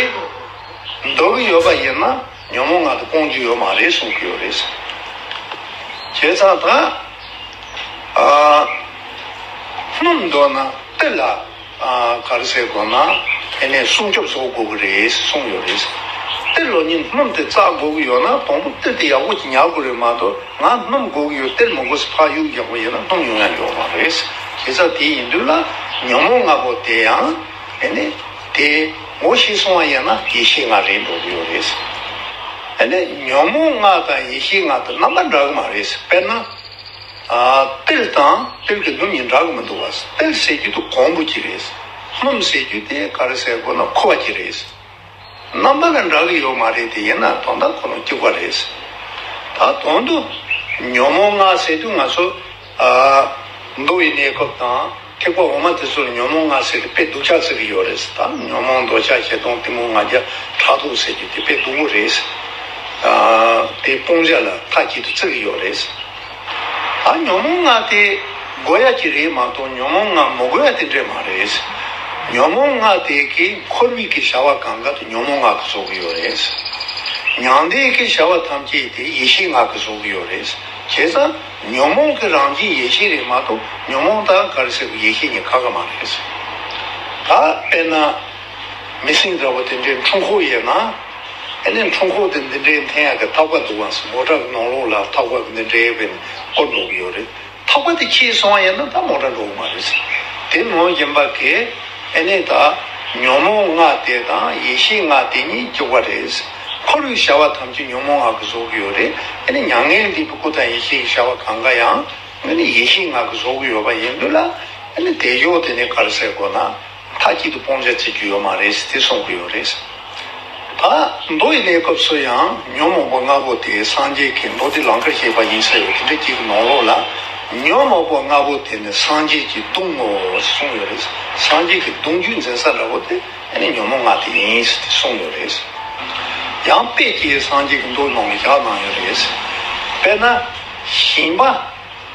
འདོར་གི་ཡོད་པ་ཡིན་ན། ཉོན་མོངས་ང་དང་སྤོང་རྒྱུ་ཡོད་མ་རེད་གསུང་གི་ཡོད་རེད་གསུང། བྱས་ཙང་ད་སྔོན་མདོ་ན་གཏེར་ལ་གར་ཟེར་དགོས་ན་དེ་ནས་སྲུང་སྐྱོབ་བཟོ་དགོས་ཀྱི་རེད་གསུང་ཡོད་རེད་གསུང། གཏེར་ལོ་ཉིན་སྣུམ་དེ་བཙག་དགོས་ཀྱི་ཡོད་ན་དང་པོ་གཏེར་དེ་ཡག་པོ་ཉར་དགོས་རེད་མ་གཏོགས་ང་སྣུམ་དགོས་ཀྱི་ཡོད་གཏེར་མི་དགོས་སུ་ཕག་གཡུག་རྒྱག་པ་ཡིན་ན་སྣུམ་ཡོང་ཡ་ཡོད་མ་རེད་གསུང། བྱས་ཙང་དེ་ཡིན་དུས་ལ་ཉོན་མོངས་ང་པོ་དེ་ཡང། ཨེ་ནས། དེ་ངོ་ཤེས་སོང་བ་ཡིན་ན་ཡེ་ཤེས་ལྔ་རེད་འགྲོ་གི་ཡོད་རེད། ཨེ་ནས། ཉོན་མོངས་ལྔ་དང་ཡེ་ཤེས་ལྔ་དུ་རྣམ་པ་འདྲ་གི་མ་རེད། དཔེར་ན། ཏིལ་དང་ཏིལ་གྱི་སྣུམ་གཉིས་འདྲ་གི་མི་འདུག་བ། ཏིལ་ཟེར་རྒྱུ་དེ་གོང་བུ་གྱི་རེད། སྣུམ་ཟེར་རྒྱུ་དེ་ག་རེ་ཟེར་དགོས་ན་ཁུ་བ་གྱི་རེད། རྣམ་པ་ལ་འདྲ་གི་ཡོད་མ་རེད་དེ་ཡིན་ན་དོན་དག་ཁོ་རང་སྐྱུག་པ་རེད། ད་དོན་དུ་ཉོན་མོངས་ལྔ་ཟེར་དུས་ང་ཚོ་མདོ་དབུས་གནས་སྐབས་དང་ཐེག་པ་འོག་མ་དེ་ཚོར་ཉོན་མོངས་ལྔ་ཟེར་དེ་དཔེ་སྡུག་ཆགས་ཚུལ་གྱི་ཡོད་རེད། ད་ཉོན་མོངས་འདོད་ཆགས་བྱེད་སྟོང་གཏི་མུག་ང་རྒྱལ་ཕྲག་དོག་ཟེར་རྒྱུ་དེ་དཔེ་སྡུག་པོ་རེད། དེ་སྤོང་བྱ་ལ་མཐའ་གཅིག་ཏུ་བརྩི་གི་ཡོད་རེད། ཨ་ཉོན་མོང་ལྔ་དེ་དགོས་ཡ་གྱི་རེད་མ་གཏོགས་ཉོན་མོང་ལྔ་མི་དགོས་ཡ་དེ་འདྲས་མ་རེད། ཉོན་མོང་ལྔ་དེ་གའི་འཁོར་མིག་གི་བྱ་བ་གང་ག་དུ་ཉོན་མོང་ལྔ་གི་བཟོ་གི་ཡོད་རེད། མྱང་འདས་ཀྱི་བྱ་བ་ཐམས་ཅད་དེ་ཡེ་ཤེས་ལྔ་གི་བཟོ་གི་ཡོད་རེད། བྱས་ཙང་ཉོན་མོང་གི་རང་བཞིན་ཡེ་ཤེས་རེད་མ་གཏོགས་ཉོན་མོང་དང་གར་སེར་བུ་ཡེ་ཤེས་གཉིས་ཁ་ཁ་མ་རེད། ད་དཔེར་ན། མི་སྲིང་འདྲ་བོ་དེ་འདྲའི་འཁྲུངས་ཁོག་ཡོད་ན། ཨེ་ནས་འཁྲུངས་ཁོག་དེ་འདི་འདྲའི་འཐེན་ཡག་གི་ཐག་པ་འདུག་ཨང་སོ་མོ་བྲག་ནང་ལུག་ལ་ཐག་པ་འདི་འདྲའི་བའི་སྐོར་འདུག་གི་ཡོད་རེད་ཐག་པ་དེ་ཁྱེར་སོང་ཡོད་ན་ད་མོ་བྲག་འགྲོ་གི་མ་རེད། དེ་མོ་རྒན་པ་གས་ཨེ་ནས་ད་ཉོན་མོངས་སྔགས་དེ་དང་ཡེ་ཤེས་སྔགས་དེ་གཉིས་སྐྱུག་པ་རེད། ཁོ་རུའི་བྱ་བ་ཐམས་ཅད་ཉོན་མོངས་སྔགས་གིས་བཟོ་གི་ཡོད་རེད་ཨེ་ནས་མྱ་ངན་འདས་པའི་སྐུ་དང་ཡེ་ཤེས་ཀྱི་བྱ་བ་གང་ག་ཡང་དངོས་ནས་ཡེ་ཤེས་སྔགས་གིས་བཟོ་གི་ཡོད་པ་ཡིན་དུས་ལ་ཨེ་ནས་དལ་འབྱོར་དེ་ནས་གར་སའི་སྒོ་ན། མཐའ་སྐྱིད་དུ་སྤོང་བྱ་བྱེད་རྒྱུ་ཡོད་མ་རེད་དེ་གསུང་གི་ཡོད་རེད། ད་མདོ་ཡི་གནས་སྐབས་སུ་ཡང་ཉོན་མོངས་པ་ལྔ་པོ་དེ་སངས་རྒྱས་ཀྱི་མདོ་སྡེ་ལང་ཀར་སྐྱེས་པ་ཡིན་ས་ཡོད་དེ་འདྲ་གྱིས་ནོངས་རོགས་ལ། ཉོན་མོངས་པ་ལྔ་པོ་དེ་ནི་སངས་རྒྱས་ཀྱི་གདུང་ངོ་གསུང་ཡོད་རེད། སངས་རྒྱས་ཀྱི་གདུང་རྒྱུད་འཛིན་ས་འདྲ་བོ་དེ་ནི་ཉོན་མོངས་ལྔ་དེ་ཡིན་དེ་གསུང་ཡོད་རེད། ཡང་དཔེ་ཀྱེ་སངས་རྒྱས་ཀྱི་མདོ་ནང་ལ་བཞག་གནང་ཡོད་རེད། དཔེར་ན། ཞིང་པ།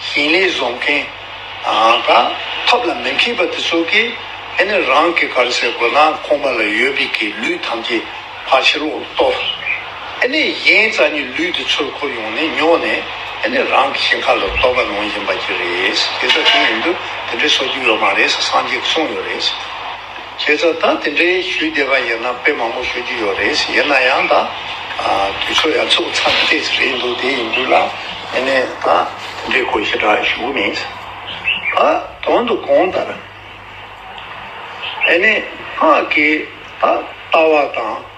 ཞིང་ལས་བཟོ་མཁན་དང་ཐབས་ལ་མི་མཁས་པ་དེ་ཚོ་གིས་ཨེ་ནི་རང་གི་གར་སའི་དགོན་ལ་ཁོང་པ་ལ་ཡོད་པའི་གི་ལུད་ཐམས་ཅད་ཕར་ཕྱི་ལོག་ལ་གཏོར། ཨེ་ནི་གཞན་རྩ་གཉིས་ལུད་དེ་ཚོས་ཁོ་ཡོང་ནས་ཉོ་ནས་ཨེ་ནི་རང་གི་ཞིང་ཁ་ལ་གཏོར་བ་ནང་བཞིན་པ་གྱི་རེད། དེ་ཚོ་དེ་ཡིན་དུས་དེ་འདྲའི་བཟོ་རྒྱུ་ཡོད་མ་རེད་སངས་རྒྱས་ཀྱི་གསུངས་ཡོད་རེད། ཁྱེད་ཚོ་ད་དེ་འདྲའི་ཞུས་བསྡད་པ་ཡིན་ན་དཔེ་མང་པོ་ཞུ་རྒྱུ་ཡོད་རེད་ཡིན་ན་ཡང་ད་དུས་ཚོད་ཡ་ཚུགས་ཚར་ནས་བལྟས་ཟེར་གྱི་འདུག་དེ་ཡིན་དུས་ལ་ངེད་ནས་ད་དེ་འདྲའི་གོ་ཞེ་དྲག་ཞུ་གི་མིན། ད་དོན་དུ་གོང་ལྟར་ཨ་ནེ་སྔགས་ཀྱི་ད་ལྟ་བ་དང།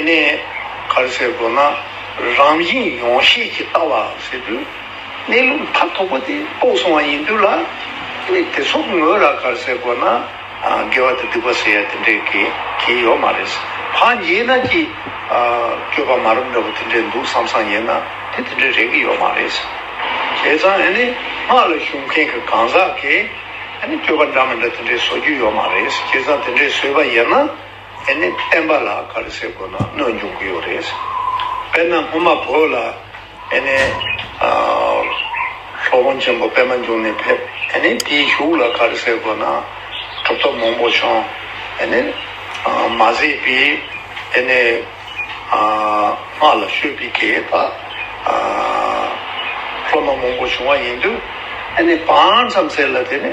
ནས། གར་ཟེར་དགོས་ན་རང་བཞིན་ཡོངས་ཤེས་ཀྱི་ལྟ་བ་ཟེར་དུས། གནས་ལུགས་མཐའ་ཐོག་པོ་དེ་རྟོགས་སོང་བ་ཡིན་དུས་ལ། དེ་ཚོགས་ངོས་ལ་གར་ཟེར་དགོས་ན། དགེ་བ་དང་སྡིག་པ་ཟེར་ཡ་དེ་འདྲའི་གལ་གྱི་ཡོད་མ་རེད། འཕགས་རྒྱལ་རྣམས་ཀྱི་སྤྱོད་པ་མ་རབས་འདྲ་པོ་དེ་འདྲའི་འདུག་བསམ་བསམ་ཡིན་ན་དེ་དེ་འདྲའི་རེད་ཀྱི་ཡོད་མ་རེད། བྱས་ཙང་ནས་སྔགས་ལ་ཞུགས་མཁན་གྱི་གང་ཟག་གིས། སྤྱོད་པ་འདྲ་མི་འདྲ་དེ་འདྲའི་བཟོ་རྒྱུ་ཡོད་མ་རེད། བྱས་ཙང་དེ་འདྲའི་བཟོས་པ་ཡིན་ན། དེ་ནི་བསྟན་པ་ལ་ག་རེ་ཟེར་དགོས་ན་གནོད་འཇུག་གི་ཡོད་རེད། དཔེར་ན་སྔོན་མ་བོད་ལ་དེ་ནི་ལྷོ་ཁོང་ཆེན་པོ་པད་མ་འབྱུང་གནས་ཕེབས་དེ་ནི་དེའི་གཞུག་ལ་ག་རེ་ཟེར་དགོས་ན་གྲུབ་ཐོབ་མང་པོ་བྱུང་དེ་ནི་མ་ཟེས་པས་དེ་ནི་སྔགས་ལ་ཤོད་པའི་གེགས་པ་སློབ་མ་མང་པོ་བྱུང་བ་ཡིན་དུས་དེ་ནི་བང་ཙམ་ཟེར་ལ་དེ་ནི།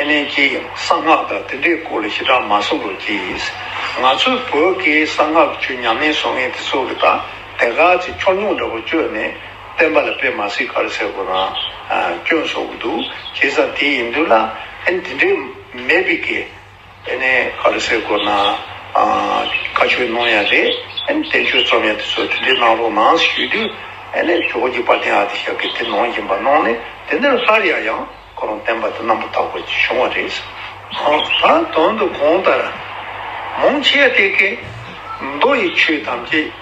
ཨེ་ལེན་ཅེ་ཡང་གསང་སྔགས་དང་དེ་འདྲའི་སྐོར་ལ་ཞེ་དྲག་མ་གསུང་རོགས་གྱིས། ང་ཚོའི་བོད་སྐད་གསང་སྔགས་ཀྱི་ཆུ་མཉམ་མེད་སོང་ངས་དེ་ཚོ་གི་དག་དེ་ག་ཅིག་ཕྱོགས་ཉུང་འདྲ་པོ་བཅོས་ནས་བསྟན་པ་ལ་དཔེ་མ་སྲིད་ག་རེ་ཟེར་དགོས་རང་སྐྱོན་བཟོ་གི་འདུག་བྱས་ཙང་དེ་ཡིན་དུས་ལ་ཨེ་འདི་འདྲའི་མེད་པའི་སྐད། དེ་ནས་ཨ་ལི་སའི་སྒོ་ན་བཀའ་ཆོས་གནང་ཡ་རེད། བསྟན་བཅོས་རྩོམ་ཡ་དེ་ཚོ་དེ་འདྲའི་གནང་རོགས་གནང་ཞུས་དུས། ཇོ་བོ་རྗེ་དཔའ་གདན་ཨ་ཏི་ཤ་ཀས་དེ་གནང་བཞིན་པ་གནང་ནས་དེ་འདིར་སླར་ཡ་ཡང་ཁོ་རང་བསྟན་པ་དེ་རྣམ་པར་དག་པ་ཅིག་བྱུང་བ་རེད། ད་དོན་དུ་གོང་ལྟར་མང་ཆེ་བ་དེ་ཀས། མདོ་ཡི་ཆོས་ཐམས་ཅད།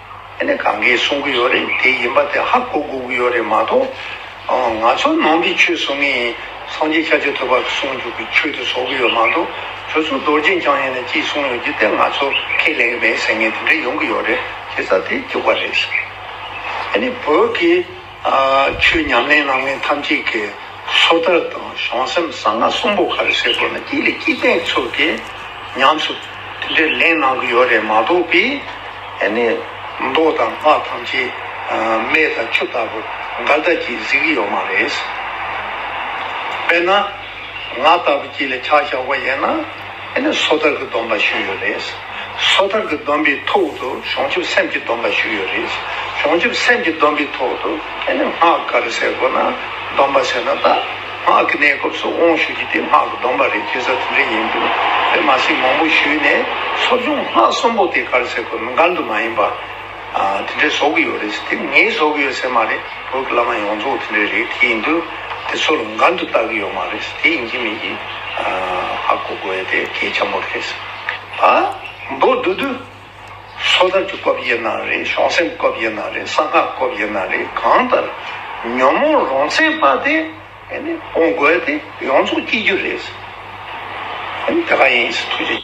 དེ་ནི་གང་གིས་གསུང་གི་ཡོད་རེད་དེ་ཡིན་པ་དེ་ཧ་གོ་དགོས་ཀྱི་ཡོད་རེད་མ་གཏོགས་ང་ཚོ་ནང་གི་ཆོས་བཟོ་ངས་ཡིན་སངས་རྒྱས་ཁྱབ་བྱེད་ཐོད་པ་གསུང་རྒྱུག་གི་ཆོས་དེ་བཟོ་གི་ཡོད་མ་གཏོགས་ཁྱོད་ཚོ་རྡོ་རྗེ་འཆང་ཡིན་ན་ཅིག་གསུང་ཡོད་རྒྱུ་དེ་ང་ཚོ་ཁས་ལེན་གི་མེད་ཟེར་ངེས་དེ་འདྲ་ཡོང་གི་ཡོད་རེད་ཁྱེད་ཚ་དེ་རྒྱུག་པ་རེད། དེ་ནི་བོད་ཀྱི། ཆུའི་ཉམས་ལེན་གནང་མཁན་ཐམས་ཅད་ཀྱི་སོ་ཐར་དང་གཞུང་སེམས་གསང་སྔགས་གསུམ་པོ་ག་རེ་བཤད་དགོས་ན་དེ་ལས་སྐྱིད་ལྡན་ཚོ་དེ་ཉམས་སུ་དེ་འདྲའི་ལེན་གནང་གི་ཡོད་རེད་མ་གཏོགས་པས་ཨེ་ནས་མདོག་དང་སྔགས་ཐམས་ཅད་མེ་དང་ཆུ་ལྟ་བུ་འགའ་ལྟ་ཅི་གཟིགས་ཀྱི་ཡོད་མ་རེད། དཔེར་ན་ང་ལྟ་བུ་ཅིག་ལ་ཕྱག་བཞག་པ་ཡིན་ན། དེ་ནས་སོ་ཐར་གྱི་སྡོམ་པ་ཞུས་ཡོད་རེད། སོ་ཐར་གྱི་སྡོམ་པའི་ཐོག་ཏུ་བྱང་ཆུབ་སེམས་ཀྱི་སྡོམ་པ་ཞུས་ཡོད་རེད། བྱང་ཆུབ་སེམས་ཀྱི་སྡོམ་པའི་ཐོག་ཏུ་དེ་ནས་སྔགས་ག་རེ་ཟེར་དགོས་ན། སྡོམ་པ་ཟེར་ན་ད་སྔགས་ཀྱི་གནས་སྐབས་སུ་དབང་ཞུ་རྒྱུ་དེ་སྔགས་ཀྱི་སྡོམ་པ་རེད་ཅེས་ས་དེ་འདྲ་ཡིན་དུས་དེ་མ་ཟིན་མང་པོ་ཞུས་ནས་ཚོགས་ཆུང་སྔགས་གསུམ་པོ་དེ་ག་རེ་ཟེར་དགོས་ན་འགལ་འདུ་མ་ཡིན་པ། དེ་འདྲའི་བཟོ་གི་ཡོད་རེད་ཟེར་དེ་ངའི་བཟོ་གི་ཡོད་ཟེར་མ་རེད་བོད་ཀྱི་བླ་མ་ཡོངས་རྫོགས་དེ་འདྲའི་རེད་དེ་ཡིན་དུས་དེ་ཚོ་ལ་འགན་དུ་བཏགས་གི་ཡོད་མ་རེད་ཟེར་དེ་ཡིན་གྱི་མིན་གྱི་ཧ་གོ་དགོས་ཡོད་དེ་གལ་ཆེན་པོ་རེད་ཟེར་ཨ་མདོ་བསྡུ་དུས་སོ་ཐར་གྱི་སྐབས་ཡིན་ན་རེད་བྱང་སེམས་སྐབས་ཡིན་ན་རེད་གསང་སྔགས་སྐབས་ཡིན་ན་རེད་གང་ལྟར་ཉོན་མོངས་རང་མཚན་དཔའ་དེ་སྤོང་དགོས་ཡོད་དེ་ཡོངས་རྫོགས་སྐྱེ་རྒྱུ་རེད་ཟེར་དེ་ག་ཡིན་ཟེར་ཐུགས་རྗེ།